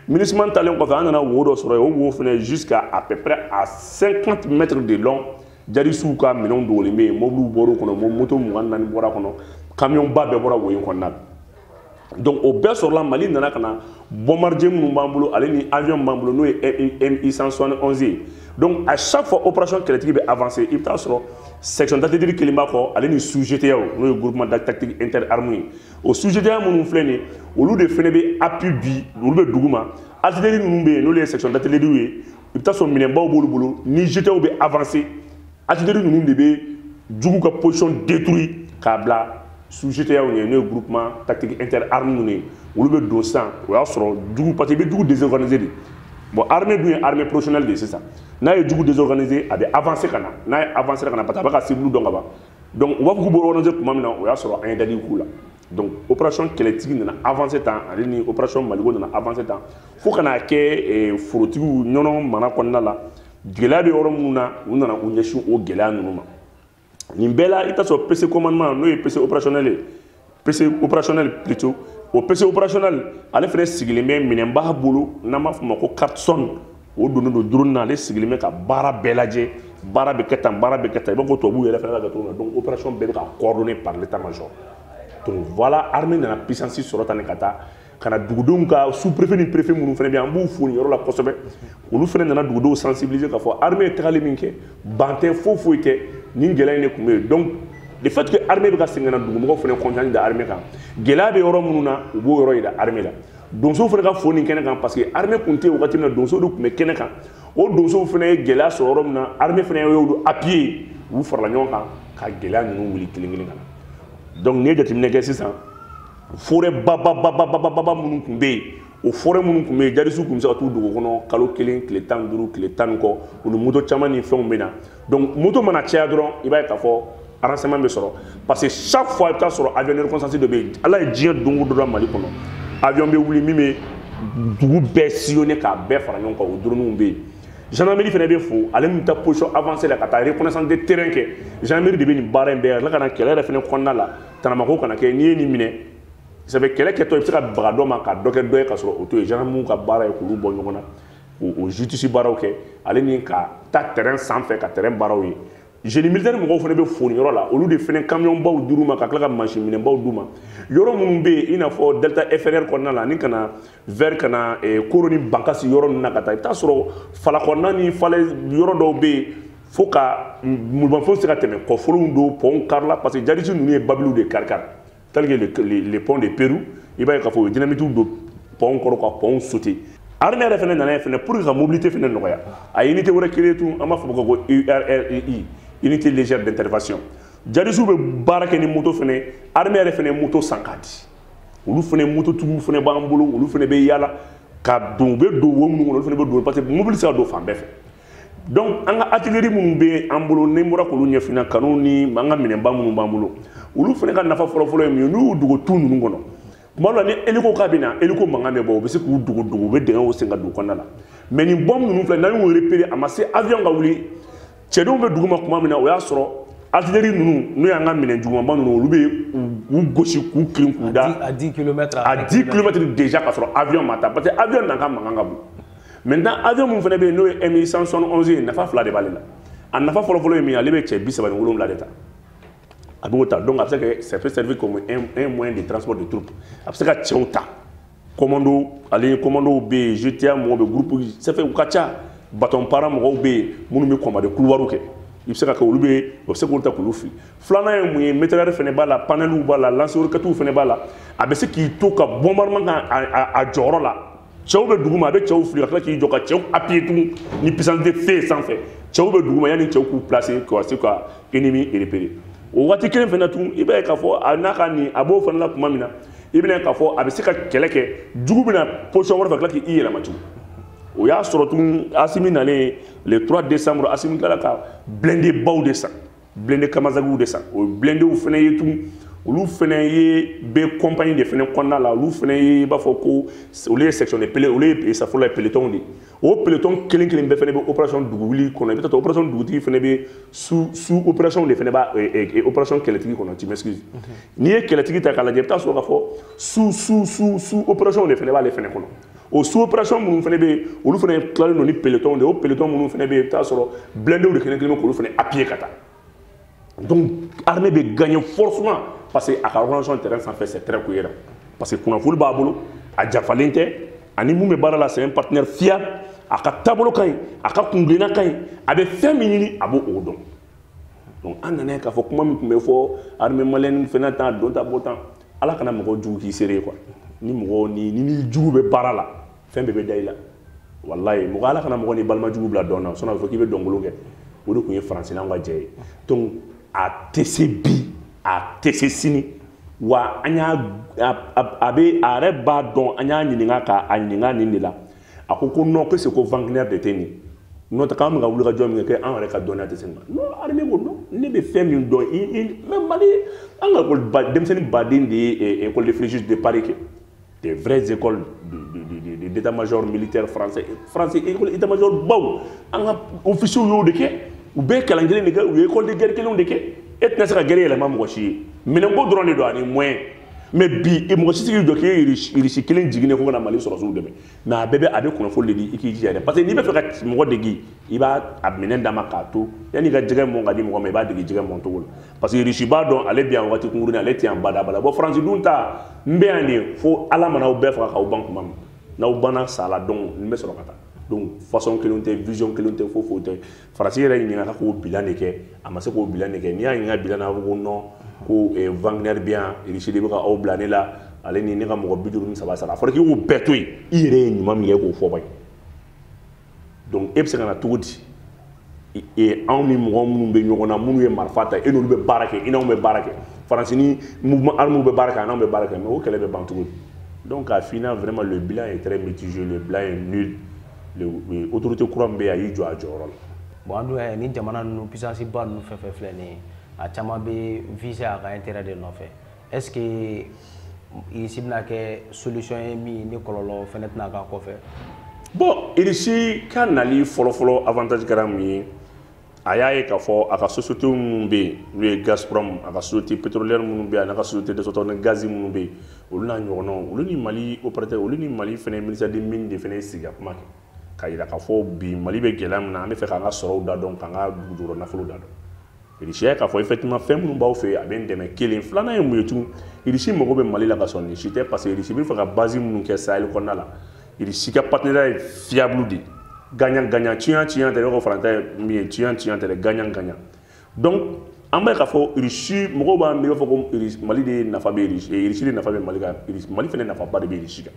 minusma taalen kɔfɛ an nana wo dɔ sɔrɔ yen o wo fana jusqu'à à peu près à 50 mètres de long jadisiw ka minɛnw dogolen bɛ yen mobiliw bɔr'o kɔnɔ moto mugan naani bɔr'a kɔnɔ kamiyɔnba bɛɛ bɔra wo in kɔnɔna na donc o bɛɛ sɔrɔla mali nana ka na bombardier minnu b'an bolo ale ni avion b'an bolo n'o ye mi 171 ye donc à chaque fois opération kɛlɛtigi bɛ avancer i bɛ taa sɔrɔ section d'artillerie kelen b'a kɔ ale ni sous GTA n'o ye groupement tactique inter armée ye o sous GTA minnu filɛ nin ye olu de fana bɛ appui di olu bɛ duguma artillerie ninnu bɛ yen n'olu ye section d'artillerie ye i bɛ taa sɔrɔ minɛnbaw b'olu bolo ni GTAw bɛ avancer artillerie ninnu de bɛ jugu ka position détruire k'a bila sous GTAw ye n'o ye groupement tactique inter arme ninnu ye olu bɛ don sisan o y'a sɔrɔ jugu parce que i bɛ jugu désorganiser de bon armée dun ye armée professionnelle de ye sisan n'a ye jugu désorganiser a bɛ avancer ka na n'a ye avancer ka na parce que a bɛ ka cible dɔn ka ban donc u b'a fɔ k'u bɛ organiser tuma min na o y'a sɔrɔ an ye dali k'u la donc opération kɛlɛtigi nana avance tan ale ni opération maliko nana avance tan fo ka n'a kɛ eh, forotigiw ɲɔnɔ mara kɔnɔna la gɛlɛya bɛ yɔrɔ minnu na u nana u ɲɛsin o gɛlɛya ninnu ma nin bɛɛ la i t'a sɔrɔ pc commandement n'o ye pc opérationnel ye pc opérationnel plutôt o pc opérationnel ale fana sigilen bɛ minɛnba bolo n'an b'a fɔ o ma ko cartson o donnen don drone na ale sigilen bɛ ka baara bɛɛ lajɛ baara bɛ kɛ tan baara bɛ kɛ tan i b'a fɔ tubabuw yɛrɛ fana bɛ kɛ cogo min na donc opération bɛɛ bɛ ka coordonner par l'état major donc voilà armée nana puissance sɔrɔ tan de ka taa ka na dugudenw ka sous préfet ni préfet minnu fana bɛ yen an b'u fo nin yɔrɔ la kosɛbɛ olu fana nana dugudenw sensibiliser k'a fɔ armée ye tagali min kɛ ban tɛ foyi foyi tɛ nin gɛlɛya in de tun bɛ yen donc le fait que armée bɛ ka segin ka na dugumɔgɔw fana confiance da armée kan gɛlɛya bɛ yɔrɔ minnu na u b'o yɔrɔ jira armée la donsow fana ka fo nin kɛnɛ kan parce que armée kun tɛ wagati min na donso de tun bɛ kɛnɛ kan o donsow fana ye gɛlɛya sɔrɔ yɔrɔ min na armée fana y'olu appuyer u farala ɲɔgɔn kan ka gɛlɛya ninnu wuli kelen kelen ka na donc n'i ye jateminɛ kɛ sisan forêt bababa minnu tun bɛ yen o forêt minnu tun bɛ yen jadisiw tun bɛ se ka t'u dogo kɔnɔ kalo kelen tile tan ni duuru tile tan ni kɔ u ni moto caman ni fɛnw bɛ na donc moto mana caya dɔrɔn i b'a ye k'a fɔ renseignement bɛ sɔrɔ parce que chaque fois i bɛ taa sɔrɔ avion de reconnaissance dɔ bɛ yen ala ye diɲɛ don o don da mali kɔnɔ avion bɛ wuli min bɛ dugu bɛɛ sillonner k'a bɛɛ fara ɲɔgɔn kan o droniw bɛ yen gendarmerie fana bɛ fo ale min bɛ taa position avancée la ka taa reconnaissance de terrain kɛ gendarmerie de bɛ nin baara in bɛɛ la ka na kɛlɛ yɛrɛ fana kɔnɔna la tanamako kana kɛ n'i ye nin minɛ sabu kɛlɛ kɛtɔ i bɛ se ka baga dɔ ma ka dɔ kɛ dɔ ye ka sɔrɔ o t'o ye gendarmerie ka baara ye k'olu bɔ ɲɔgɔn na o justice baaraw kɛ ale ni ka taa terrain sanfɛ ka terrain baaraw ye génie militaire mɔgɔw fana bɛ foni yɔrɔ la olu de fana camion baw dir'u ma ka tila ka mansin minɛn baw d'u ma yɔrɔ minnu bɛ yen i n'a fɔ delta inférieur kɔnɔna la ani ka na vers ka na eh, koro ni bankasi yɔrɔ ninnu na ka taa i bɛ taa sɔrɔ fala kɔnɔna ni falaise yɔrɔ dɔw bɛ yen fo ka bolimafɛnw se ka tɛmɛ kɔfolow don pɔnw karila parce que jadisi ninnu ye babiliw de karikari tels que le, le, le pont de Parou i b'a ye k'a fɔ u ye dynamitiw don pɔnw kɔrɔ ka pɔnw sauter armée yɛrɛ fana nana ye fana pour que ka mobilité fana nɔgɔya a ye unité wɛrɛ créer tun an b'a fɔ ko ULRI unité légère d'intervention jadisiw bɛ baara kɛ ni moto fana armée yɛrɛ fana moto san k'a di olu fana moto tigiw fana b'an bolo olu fana bɛ yaala ka don u bɛ don wo minnu kɔnɔ olu fana bɛ don parce que mobili tɛ se ka don fan bɛɛ fɛ donc an ka atileri minnu bɛ an bolo ni bɔra k'olu ɲɛfina canon ni an ka minɛnba minnu b'an bolo olu fana ka nafa fɔlɔfɔlɔ ye min ye n'u y'u dogo tu ninnu kɔnɔ tuma dɔ la ni eliko k'a bɛ na eliko mankan bɛ bɔ u bɛ se k'u dogo dogo u bɛ dingɛw sen ka don kɔnɔna la mais nin bɔmu ninnu filɛ n'an y'u repere a ma se avion ka wuli cɛdenw bɛ duguma kuma min na o y'a sɔrɔ atileri ninnu n'o y'an ka minɛn jugumanba ninnu olu bɛ u gosi k'u kirin k'u da à 10 kilomɛtiri déjà k'a sɔrɔ avion ma taa parce que avion na ka mankan ka bon maintenant avion min fana bɛ yen n'o ye mi 171 ye nafa fila de b'ale la a nafa fɔlɔfɔlɔ ye min ye ale bɛ cɛ bi saba ni wolonwula de ta a b'o ta donc a bɛ se ka ça peut servir comme un moyen de transport de troupe a bɛ se ka cɛw ta commando ale commandow bɛ yen GTIA mɔgɔw bɛ groupe ça fait u ka ca bataillon para mɔgɔw bɛ yen minnu bɛ combat de couloirw kɛ i bɛ se ka kɛ olu bɛ o bɛ se k'olu ta k'olu fili filanan ye mun ye mitrailleur fana b'a la panneluw b'a la lance roquettes fana b'a la a bɛ se k'i to ka bombardement kɛ a jɔyɔrɔ la cɛw bɛ dugu ma a bɛ cɛw fili ka tila k'i jɔ ka cɛw appuyer tugun ni puissance de feu ye sanfɛ cɛw bɛ dugu ma yanni cɛw k'u placer ka se ka ennemi repérer o waati kelen fana tugun i b'a ye k'a fɔ a n'a ka nin a b'o fana la tuma min na i bɛna ye k'a fɔ a bɛ se ka kɛlɛ kɛ jugu bɛna position wɛrɛ fɛ ka tila k'i yɛlɛma tugun o y'a sɔrɔ tun asimi nalen le 3 décembre asimi tilala ka blindé baw de san blindé kamazagiw de san o blindéw fana ye tun olu fana ye bɛ kɔnpani de fana kɔnɔna la olu fana ye i b'a fɔ ko olu ye section de pele olu ye safo la pelotonw de o peloton kelen kelen bɛɛ fana bɛ operation dugu wuli kɔnɔ i bɛ taa sɔrɔ operation dugutigi fana bɛ sous sous opération de fana b'a operation kɛlɛtigi kɔnɔ tu m'excuses n'i ye kɛlɛtigi ta k'a lajɛ i bɛ taa sɔrɔ k'a fɔ sous sous sous sous opération de fana b'ale fana kɔnɔ o sous opération minnu fana bɛ yen olu fana tilalen don ni peloton de ye o peloton minnu fana bɛ yen i bɛ taa sɔrɔ blindéw de kelen kelen bɛ k'olu fana appuyer ka taa donc armée bɛ gagner forcément parce que a ka organisation terrain sanfɛ c'est très cohérent parce que kunnafoni b'a bolo a janfalen tɛ a ni min bɛ baara la c'est un partenaire fiable a ka taabolo ka ɲi a ka kuntilenna ka ɲi a bɛ fɛn min ɲini a b'o dɔn donc an nana ye k'a fɔ kuma min tun bɛ fɔ armée malienne fana t'a dɔn ta bɔ tan ala kana mɔgɔ jugu k'i seere quoi ni mɔgɔ ni ni jugu bɛ baara la fɛn bɛɛ bɛ da i la walayi mɔgɔ ala kana mɔgɔ ni balima jugu bila dɔn na sinon a bɛ fɔ k'i bɛ dɔnkolon kɛ o de tun ye faransi n'an ka jɛ ye donc a tɛ se bi a tɛ se sini wa an y'a a bɛ a yɛrɛ b'a dɔn an y'a ɲininka k'a ɲininka nin de la a ko ko non que c'est ko wagner de tɛ nin n'o tɛ k'an bɛ ka wuli ka jɔ min kɛ k'an yɛrɛ ka dɔnniya tɛ se nin ma non armée ko non ne bɛ fɛn min dɔn i i mais mali an ka ekɔli ba denmisɛnnin baden de ye école de fréjus de paris kɛ des vraies écoles d'état major militaire français français école état major baw an ka officiers y'o de kɛ u bɛɛ kalan kelen de kɛ u ye école de guerre kelenw de kɛ e tɛna se ka guerre yɛlɛma mɔgɔ si ye minɛnko dɔrɔn de don ani moyen mais bi mɔgɔ si tɛ se k'i jɔ k'i ye irisi kelen jiginnen ko ka na mali sɔrɔsiw dɛmɛ mais a bɛɛ bɛ a bɛ kunnafoni de di i k'i jija dɛ parce que n'i bɛ fɛ ka mɔgɔ degi i b'a a minɛn d'a ma k'a to yanni ka jɛgɛ mɔn ka di mɔgɔ ma i b'a degi jɛgɛ mɔn cogo la parce que irisi b'a dɔn ale bɛ yan waati kunkurunin ale tɛ yan badabada bon faransi dun ta n bɛ yan de fo ala mana aw bɛɛ faga k'aw ban kuma min n'aw banna sa la donc n bɛ sɔrɔ ka taa donc façon kelen tɛ vision kelen tɛ foyi foyi tɛ faransi yɛrɛ ɲininka k'o bilan de kɛ a ma se k'o bilan de kɛ n'i y'a ɲininka bilan na a bɛ ko non ko wagner bɛ yan irisi de bɛ ka aw bila ne la ale ni ne ka mɔgɔ bi duuru ni saba sara a fɔra k'i k'o bɛɛ to yen i yɛrɛ ye ɲuman min kɛ k'o fɔ ban donc e bɛ se ka na cogo di e anw ni mɔgɔ minnu bɛ ɲɔgɔn na minnu ye marifa ta e n'olu bɛ baara kɛ i n'anw bɛ baara kɛ faransi ni mouvement armé bɛ baara kɛ a n'anw bɛ baara kɛ mais o kɛlɛ bɛ ban cogo di donc au final vraiment le bilan est très mitigé le bilan est nul autorité kura min bɛ a y'i jɔ a jɔyɔrɔ la bon an dun y'a ye ni jamana ninnu puissance ba ninnu fɛn fɛn filɛ nin ye a caman bɛ viser a ka intérêt de nɔfɛ est ce que irisi bɛna kɛ solution ye min ni kɔlɔlɔ fɛnɛ tɛna k'a kɔfɛ bon irisi ka nali fɔlɔfɔlɔ avantage kɛra mun ye a y'a ye k'a fɔ a ka société minnu bɛ yen n'o ye Gazprom a ka société pétrolière minnu bɛ yen a n'a ka société de sɔrɔtɔ ni gazi minnu bɛ yen olu n'a ɲɔgɔnnaw olu ni Mali opérateur olu ni Mali fana ministère des mines de fana ye sigi ka kuma kɛ k'a jira k'a fɔ bi Mali bɛ gɛlɛya min na an bɛ fɛ k'an ka sɔrɔw da dɔn k'an ka dugujukɔrɔ nafolo da dɔn Irisi y'a ye k'a fɔ effectivement fɛn minnu b'aw fɛ yen a bɛ n dɛmɛ kelen filanan ye mun ye tun Irisi mago bɛ Mali la ka sɔrɔ nin si tɛ parce que Irisi bɛ fɛ ka base minnu kɛ Sahel kɔnɔna la Irisi ka partenariat fiable de gagnant gagnant tiɲɛ tiɲɛ tɛ ne ko faransi ta ye min ye tiɲɛ tiɲɛ tɛ dɛ gagnant gagnant donc an b'a ye k'a fɔ irisi mɔgɔw b'a miiri b'a fɔ ko mali de nafa bɛ irisi irisi de nafa bɛ mali kan mali fana nafaba de bɛ irisi kan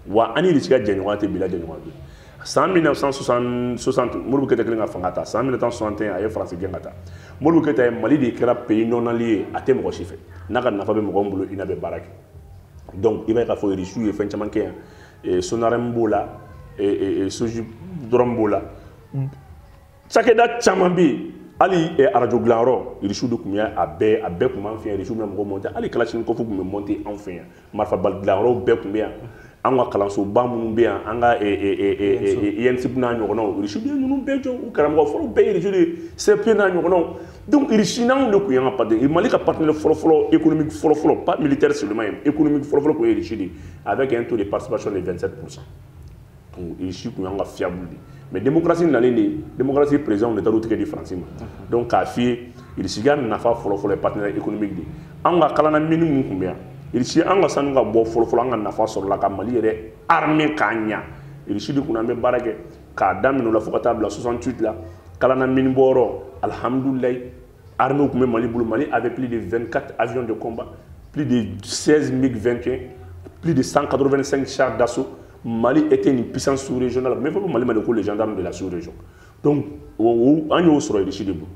wa an ni irisi ka jɛɲɔgɔnya tɛ bi la jɛɲɔgɔn bɛ san 1960 modibo keyita kɛlen ka fanga ta san 1961 a ye faransi gɛn ka taa modibo keyita ye mali de kɛra pays non aligné ye a tɛ mɔgɔ si fɛ n'a ka nafa bɛ mɔgɔ min bolo i n'a bɛ baara kɛ donc i b'a ye k'a fɔ irisiw ye fɛn caman kɛ yan eh, sonarɛmu b'o la eh, eh, soji dɔrɔn b'o la cakɛda caman bɛ yen hali arajo dilanyɔrɔ irisiw de tun bɛ a bɛɛ a bɛɛ tun b'an fɛ yan irisiw bɛ mɔgɔ mɔnte hali kalasinikɔfu tun bɛ mɔnte anw fɛ yan marifabali dilanyɔrɔw bɛɛ tun bɛ yan an ka kalansoba minnu bɛ yan an ka ensup n'a ɲɔgɔnnaw irisiw de ye ninnu bɛɛ jɔ u karamɔgɔ fɔlɔ bɛɛ ye irisiw de ye cp n'a ɲɔgɔnnaw donc irisi ni anw de tun y'an ka partenaire mali ka partenaire fɔlɔfɔlɔ économique fɔlɔfɔlɔ pas militaire seulement ye économique fɔlɔfɔlɔ tun ye irisi de ye avec un taux de participation de 27 pourcent donc irisi tun y'an ka fiable de mais démocratie nalen de démocratie président de taar'u tigɛ di faransi ma donc k'a f'i ye irisi ka nafa fɔlɔfɔlɔ ye partenaire économique de ye an ka kalana mini min tun bɛ yan irisi an ka sanu ka bɔ fɔlɔfɔlɔ an ka nafa sɔrɔla ka mali yɛrɛ armée k'a ɲa irisi de kunna an bɛ baara kɛ k'a daminɛ o la fo ka taa bila 68 la kalana mini bɔyɔrɔ alihamudulilayi armée tun bɛ mali bolo mali avait plus de 24 avions de combat plus de 16 mig 21 plus de 185 chars d'assaut mali était une puissance sous régionale mais fɔ ko mali ma de ko les gendarmes de la sous région donc an y'o sɔrɔ irisi de bolo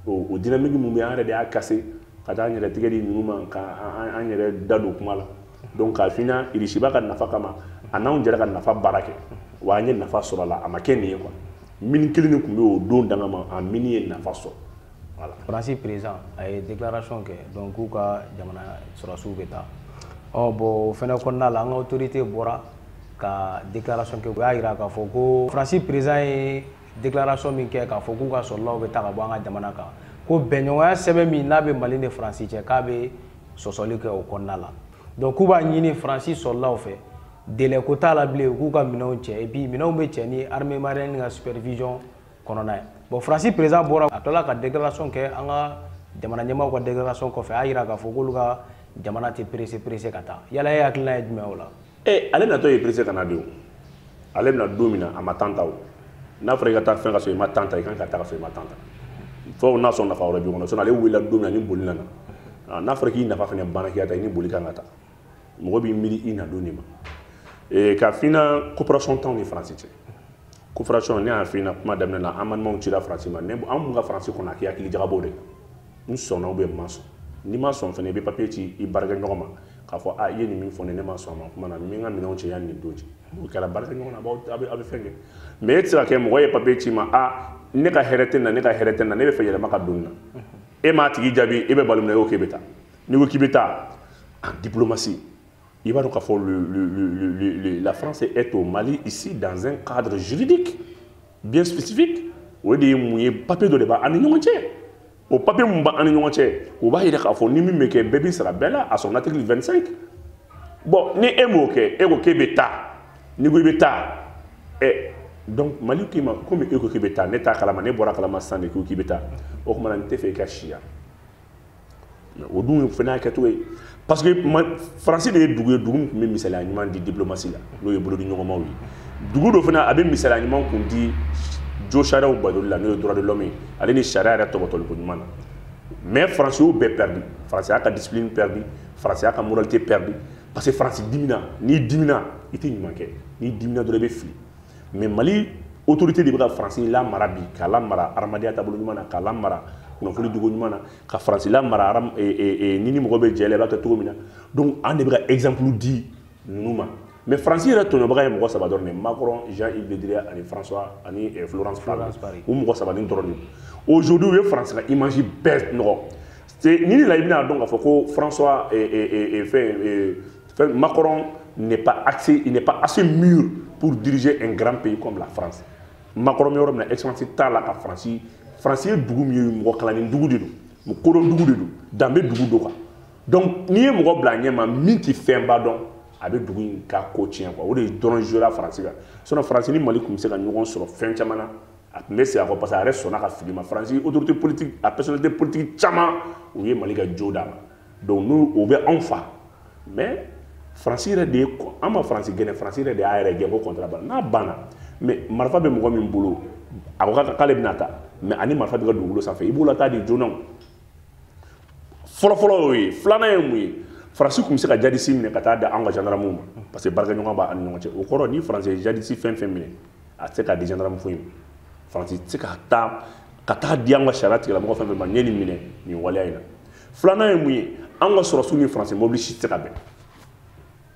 o dynamique mun bɛ an yɛrɛ de y'a cassé ka taa an yɛrɛ tigɛ di ninnu ma ka an yɛrɛ da don kuma la donc k'a f'i ɲɛna irisi b'a ka nafa kama a n'anw jɛra ka nafa baara kɛ wa an ye nafa sɔrɔ a la a ma kɛ nin ye quoi mini kelen de tun bɛ o don danga ma a mini ye nafa sɔrɔ voilà faransi président a ye déclaration kɛ donc k'u ka jamana sɔrɔdasiw bɛ taa ɔ bon o fana kɔnɔna la an ka autorité bɔra ka déclaration kɛ u y'a jira k'a fɔ ko faransi président ye déclaration min kɛ k'a fɔ k'u ka sɔrɔdasiw bɛ taa ka bɔ an ka jamana kan ko bɛnɲɔgɔnya sɛbɛn min n'a bɛ mali ni faransi cɛ k'a bɛ sɔsɔli kɛ o kɔnɔna la donc k'u b'a ɲini faransi sɔrɔdasiw fɛ délai ko t'a la bilen k'u ka minɛnw cɛ et puis minɛnw bɛ cɛ ni armée malienne ka supervision kɔnɔna ye bon faransi président bɔra a tilala ka déclaration kɛ an ka jamana ɲɛmaaw ka déclaration kɔfɛ a y'a jira k'a fɔ k'olu ka jamana tɛ pressé pressé ka taa yala e hakilina ye jumɛn o la e ale natɔ ye pressé ka na de o ale bɛna don min na a ma temps ta o n'a fɔra i ka taa fɛn ka sɔrɔ i ma temps ta i kan ka taa ka sɔrɔ i ma temps ta fo n'a sɔrɔ nafa wɛrɛ b'i kɔnɔ sinon ale wulila don min na ni boli nana ah, n'a fɔra k'i nafa fana banna k'i ka taa i ni boli kan ka taa mɔgɔ b'i miiri i na don de ma eh, k'a f'i ɲɛna coopération t'anw ni faransi cɛ coopération ne y'a f'i ɲɛna kuma daminɛ la an balimaw cira faransi ma ne an mun ka faransi kɔnɔ a k'i hakili jagabɔ de n sɔnna ou bien n ma sɔn n'i ma sɔn fana i bɛ papiye ci i baarakɛɲɔgɔn ma k'a fɔ a i ye nin min fɔ ne ne ma sɔn a ma kuma na n bɛ n ka minɛnw cɛ yanni nin don cɛ o kɛra baarakɛɲɔgɔn na a bɛ fɛn kɛ mais e tɛ se ka kɛ mɔgɔ ye papiye ci i ma a ne ka hɛrɛ tɛ na ne ka hɛrɛ tɛ na ne bɛ fɛ yɛlɛma ka don na e m'a tigi jaabi e bɛ balo minɛ e ko k'e bɛ taa n'i ko k'i bɛ taa en diplomatie I b'a dɔn k'a fɔ la France est au Mali ici dans un cadre juridique bien spécifique o de ye mun ye papier dɔ de b'an ni ɲɔgɔn cɛ o papier mun b'an ni ɲɔgɔn cɛ o b'a jira k'a fɔ ni min bɛ kɛ bɛɛ b'i sara bɛɛ la à son article 25 bon ni e m'o kɛ e ko k'e bɛ taa n'i ko i bɛ taa ɛ donc Mali k'i ma komi e ko k'i bɛ taa ne t'a kalama ne bɔra kalama sisan de k'i bɛ taa o tuma na n tɛ fɛ i ka si yan o dun fana y'a kɛcogo ye parce que faransi de ye dugu ye dugu min tun bɛ misaliya ɲuman di diplomasi la n'o ye bolodiɲɔgɔnmaw ye dugu don fana a bɛ misaliya ɲuman kun di josariyaw batoli la n'o ye droit de l'homme ye ale ni sariya yɛrɛ topotoliko ɲuman na mais faransi y'o bɛɛ perdu faransi y'a ka discipline perdu faransi y'a ka moralité perdu parce que faransi dimina n'i dimina i tɛ ɲuman kɛ n'i dimina dɔrɔn i bɛ fili mais mali autorité de bɛ ka faransi lamara bi k'a lamara hadamadenya taabolo ɲuman na k'a lamara kunnafoni dogo ɲuman na ka faransi lamara e, e, e, ni ni mɔgɔ bɛ jɛ la i b'a kɛ cogo min na donc an de bɛ ka exemple di ninnu ma mais faransi yɛrɛ tɔɲɔbaga ye mɔgɔ saba dɔrɔn de macron jean yves le drian ani françois ani florence parly o mɔgɔ saba nin dɔrɔn de aujourd'hui u ye faransi ka image bɛɛ nɔgɔ ni ni la i bɛna dɔn k'a fɔ ko françois fɛn Macron n'est pas assez, il n'est pas assez mûr pour diriger un grand pays comme la France. Macron bɛ yɔrɔ min na excellence t'a la ka France France ye dugu min ye mɔgɔ kalanni dugu de don mɔgɔ kodɔn dugu de don danbe dugu don quoi donc n'i ye mɔgɔ bila a ɲɛ ma min tɛ fɛnba dɔn a bɛ dugu in ka ko tiɲɛ quoi o de dɔrɔn jouera France kan sinon France ni Mali tun bɛ se ka ɲɔgɔn sɔrɔ fɛn caman na a tun bɛ segin a kɔ parce que a yɛrɛ sɔnna ka fili ma France autorité politique a personnalité politique caman u ye Mali ka jo d'a ma. donc n'u o bɛ anw faamu mais faransi yɛrɛ de ye an ma faransi gɛn faransi yɛrɛ de y'a yɛrɛ gɛn ko contrat banna n'a banna mais marifa bɛ mɔgɔ min bolo a ko k'ale bɛna taa mais a ni marifa b'i ka dugukolo sanfɛ i b'o lataa de joona o fɔlɔfɔlɔ y'o ye filanan ye mun ye faransi tun bɛ se ka jadisi minɛ ka taa di an ka jandaramɛw ma parce que baarakɛɲɔgɔn b'an ni ɲɔgɔn cɛ o kɔrɔ ni faransi ye jadisi fɛn fɛn minɛ a tɛ se k'a di gendarme foyi ma faransi tɛ se ka taa ka taa di an ka sariya tigilamɔgɔ fɛn fɛn ma n ye nin minɛ nin waleya in na filanan ye mun ye an ka sɔrɔsiw ni faransi mobili si tɛ se ka bɛn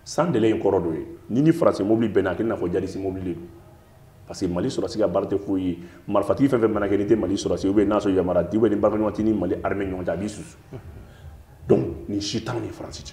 san dɛlɛ in kɔrɔ dɔ ye ni ni faransi mobili bɛnna a kɛ i n'a fɔ jadisi mobili de don parce que mali sɔrɔsi ka baara tɛ foyi ye marifatigi fɛn fɛn mana kɛ n'i tɛ mali sɔrɔsi ou bien n'a sɔrɔ yamaruya di ou bien ni baarakɛɲɔgɔn tɛ ni mali armée ɲɔgɔn cɛ a b'i susu donc nin si t'anw ni faransi cɛ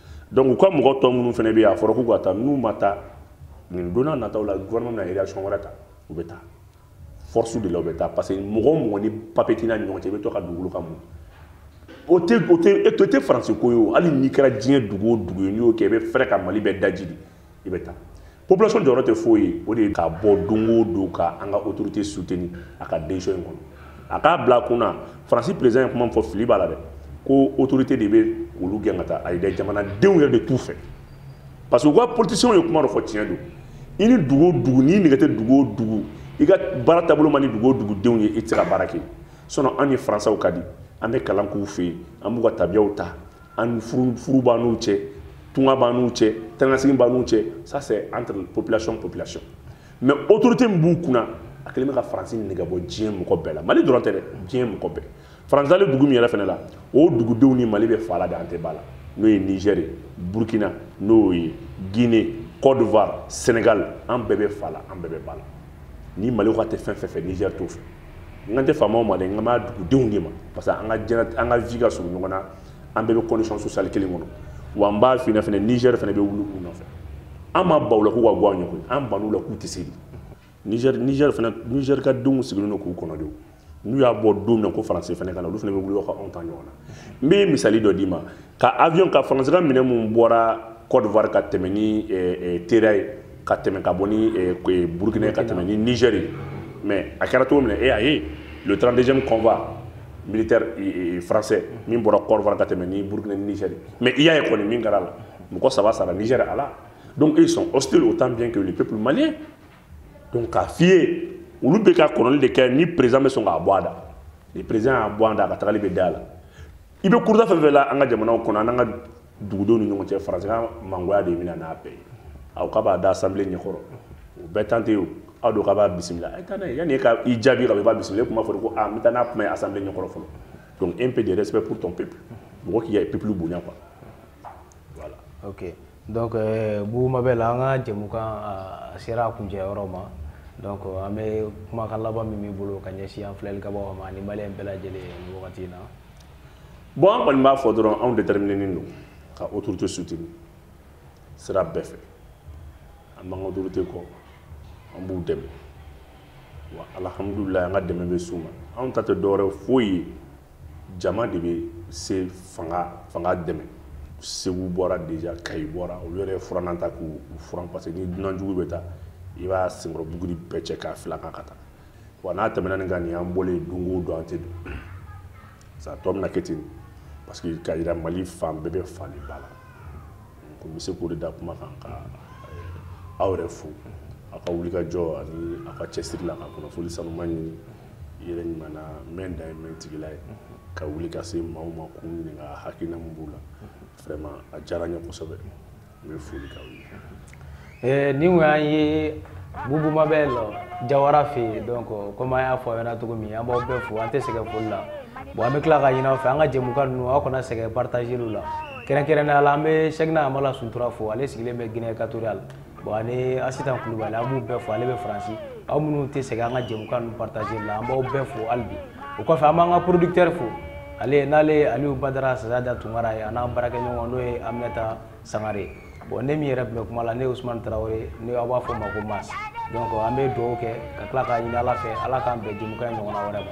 donc u ka mɔgɔ tɔ minnu fana bɛ yen a fɔra k'u ka taa n'u ma taa nin don nataw la gouvernement bɛna réaction wɛrɛ ta u bɛ taa force de la u bɛ taa parce que mɔgɔ o mɔgɔ ni papier t'i n'a ni ɲɔgɔn cɛ i bɛ to ka dugukolo kan mun o tɛ o tɛ e tɛ faransi ko ye o hali n'i kɛra diɲɛ dugu o dugu ye n'i y'o kɛ i bɛ fɛɛrɛ ka mali bɛɛ daji de i bɛ taa population jɔyɔrɔ tɛ foyi ye o de ye ka bɔ don o don ka an ka autorité soutenir a ka décision in kɔnɔ a k'a bila a kun na faransi président ye kuma min fɔ fili b'a la dɛ ko autorité de bɛ olu gɛn ka taa ayi dɛ jamanadenw yɛrɛ de t'u fɛ parce que u ka politiciens ye kuma dɔ fɔ tiɲɛ don i ni dugu o dugu n'i nɛgɛ tɛ dugu o dugu i ka baara taabolo man di dugu o dugudenw ye i tɛ se ka baara kɛ sinon an ni faransaw ka di an bɛ kalan k'u fɛ yen an b'u ka tabiyaw ta an furu b'an n'u cɛ tunga b'an n'u cɛ tɛnɛnasigi b'an n'u cɛ ça c'est entre population population mais autorité min b'u kunna a kɛlen bɛ ka faransi nɛgɛ bɔ diɲɛ mɔgɔ bɛɛ la mali dɔrɔn tɛ dɛ diɲɛ mɔgɔ bɛɛ faransi dalen dugu min yɛrɛ fana la o dugudenw ni mali bɛ fa la de an tɛ ba la n'o ye nigɛr burkina n'o ye guinée cote d'ivoire sénégal an bɛɛ bɛ fa la an bɛɛ bɛ ba la ni mali ko a tɛ fɛn fɛn fɛ nigɛr t'o fɛ n kan tɛ faamaw ma dɛ n kan b'a dugudenw de ma parce que an ka jɛnɛ an ka vie ka surun ɲɔgɔn na an bɛɛ bɛ condition sociale kelen kɔnɔ wa n b'a f'i ɲɛna fɛnɛ Niger fɛnɛ bɛ wuli u nɔfɛ an ma ban u la k'u ka bɔ an ɲɛ koyi an ban'u la k'u tɛ se de Niger Niger fɛnɛ Niger ka denw sigilen don k'u kɔnɔ de n'u y'a bɔ don min na ko faransi fɛnɛ ka na olu fɛnɛ bɛ wuli ka anw ta ɲɔgɔn na n bɛ misali dɔ d'i ma ka avion ka faransi ka minɛn minnu bɔra cote d'ivoire ka tɛmɛ ni eh, eh, tera ye ka tɛmɛ ka bɔ ni eh, eh burkina ka tɛmɛ ni niger ye mais a kɛra cogo min na e a ye le 32e convoi militaire eh, eh, français min bɔra cote d'ivoire ka tɛmɛ ni burkina ni niger mais i y'a ye kɔni min kɛra la mɔgɔ saba sara niger a la donc ils sont hostiles autant bien que le peuple malien donc k'a f'i ye olu bɛ ka kɔnɔni de kɛ ni président bɛ sɔn k'a bɔ a da ni président y'a bɔ a da a ka tagali bɛ da a la i bɛ kuruta fɛn fɛn la an ka jamanaw kɔnɔ an n'an ka dugudenw ni ɲɔgɔn cɛ faransi ka mangoya de bɛ na n'a bɛɛ ye aw k'a b'a da assemblée ɲɛkɔrɔ o bɛɛ tante ye aw don k'a b'a bisimila a ye taa n'a ye yanni e ka i jaabi ka i b'a bisimila e kuma fɔ de ko a ah, n bɛ taa n'a kuma ye assemblée ɲɛkɔrɔ fɔlɔ donc un peu de respect pour ton peuple mɔgɔ k'i ka peuple bonya quoi voilà ok donc euh, bubu mabel an ka jɛmukan a sera a kuncɛ yɔrɔ ma donc an bɛ kumakan laban min b'i bolo ka ɲɛsin an filɛlikɛbagaw ma ani maliyɛn bɛɛ lajɛlen nin wagati in na bon an kɔni b'a fɔ dɔrɔn anw déterminenen don ka autorité soutenir sira bɛɛ fɛ an b'an ka autorité kɔ an b'u dɛmɛ wa alhamdulillah an ka dɛmɛ bɛ s'u ma anw ta tɛ dɔwɛrɛ foyi ye jama de bɛ se fanga fanga dɛmɛ segu bɔra déjà kayi bɔra olu yɛrɛ furanna ta k'u furan parce que ni dunan jugu bɛ taa i b'a senkɔrɔ buguri bɛɛ cɛ k'a fil'a kan ka taa wa n'a tɛmɛna nin kan nin y'an bɔlen don o don an tɛ don sa tɔ bɛna kɛ ten parce que k'a yira mali fan bɛɛ bɛ fa ni ba la ko n bɛ se k'o de da kuma kan ka eh, aw yɛrɛ fo aw ka wulikajɔ ani aw ka cɛsiri la ka kunnafoni sanuma ɲini yɛrɛ ɲuman na n bɛ da ye mɛ tigila ye ka wuli ka se maaw ma k'u ɲininka hakilina min b'u la vraiment a diyara n ye kosɛbɛ n bɛ foli k'aw ye eh, nin kun y'an ye bubu mabɛl jawara fɛ yen donc komi an y'a fɔ aw ɲɛna cogo min an b'aw bɛɛ fo an tɛ sɛgɛn foli la bon an bɛ tila k'a ɲini aw fɛ an ka jɛmukan ninnu aw kana sɛgɛn partager la kɛrɛnkɛrɛnnenya la an bɛ sɛkina amala suntura fo ale sigilen bɛ guinee équatoriale bon ani asitan kulubali an b'u bɛɛ fo ale bɛ faransi aw minnu tɛ sɛgɛn an ka jɛmukan ninnu partager la an b'aw bɛɛ fo hali bi o kɔfɛ an b'an ka producteur fo ale n'ale ye aliyu badara sazada tunkara ye a n'an baarakɛɲɔgɔn n'o ye aminata sangare bon ne min yɛrɛ tun bɛ kuma la ne ye ousmane traoré n'aw b'a fɔ n ma ko mas donc an bɛ dugawu kɛ ka tila k'a ɲini ala fɛ ala k'an bɛn jɛmukan ɲɔgɔnna wɛrɛ ma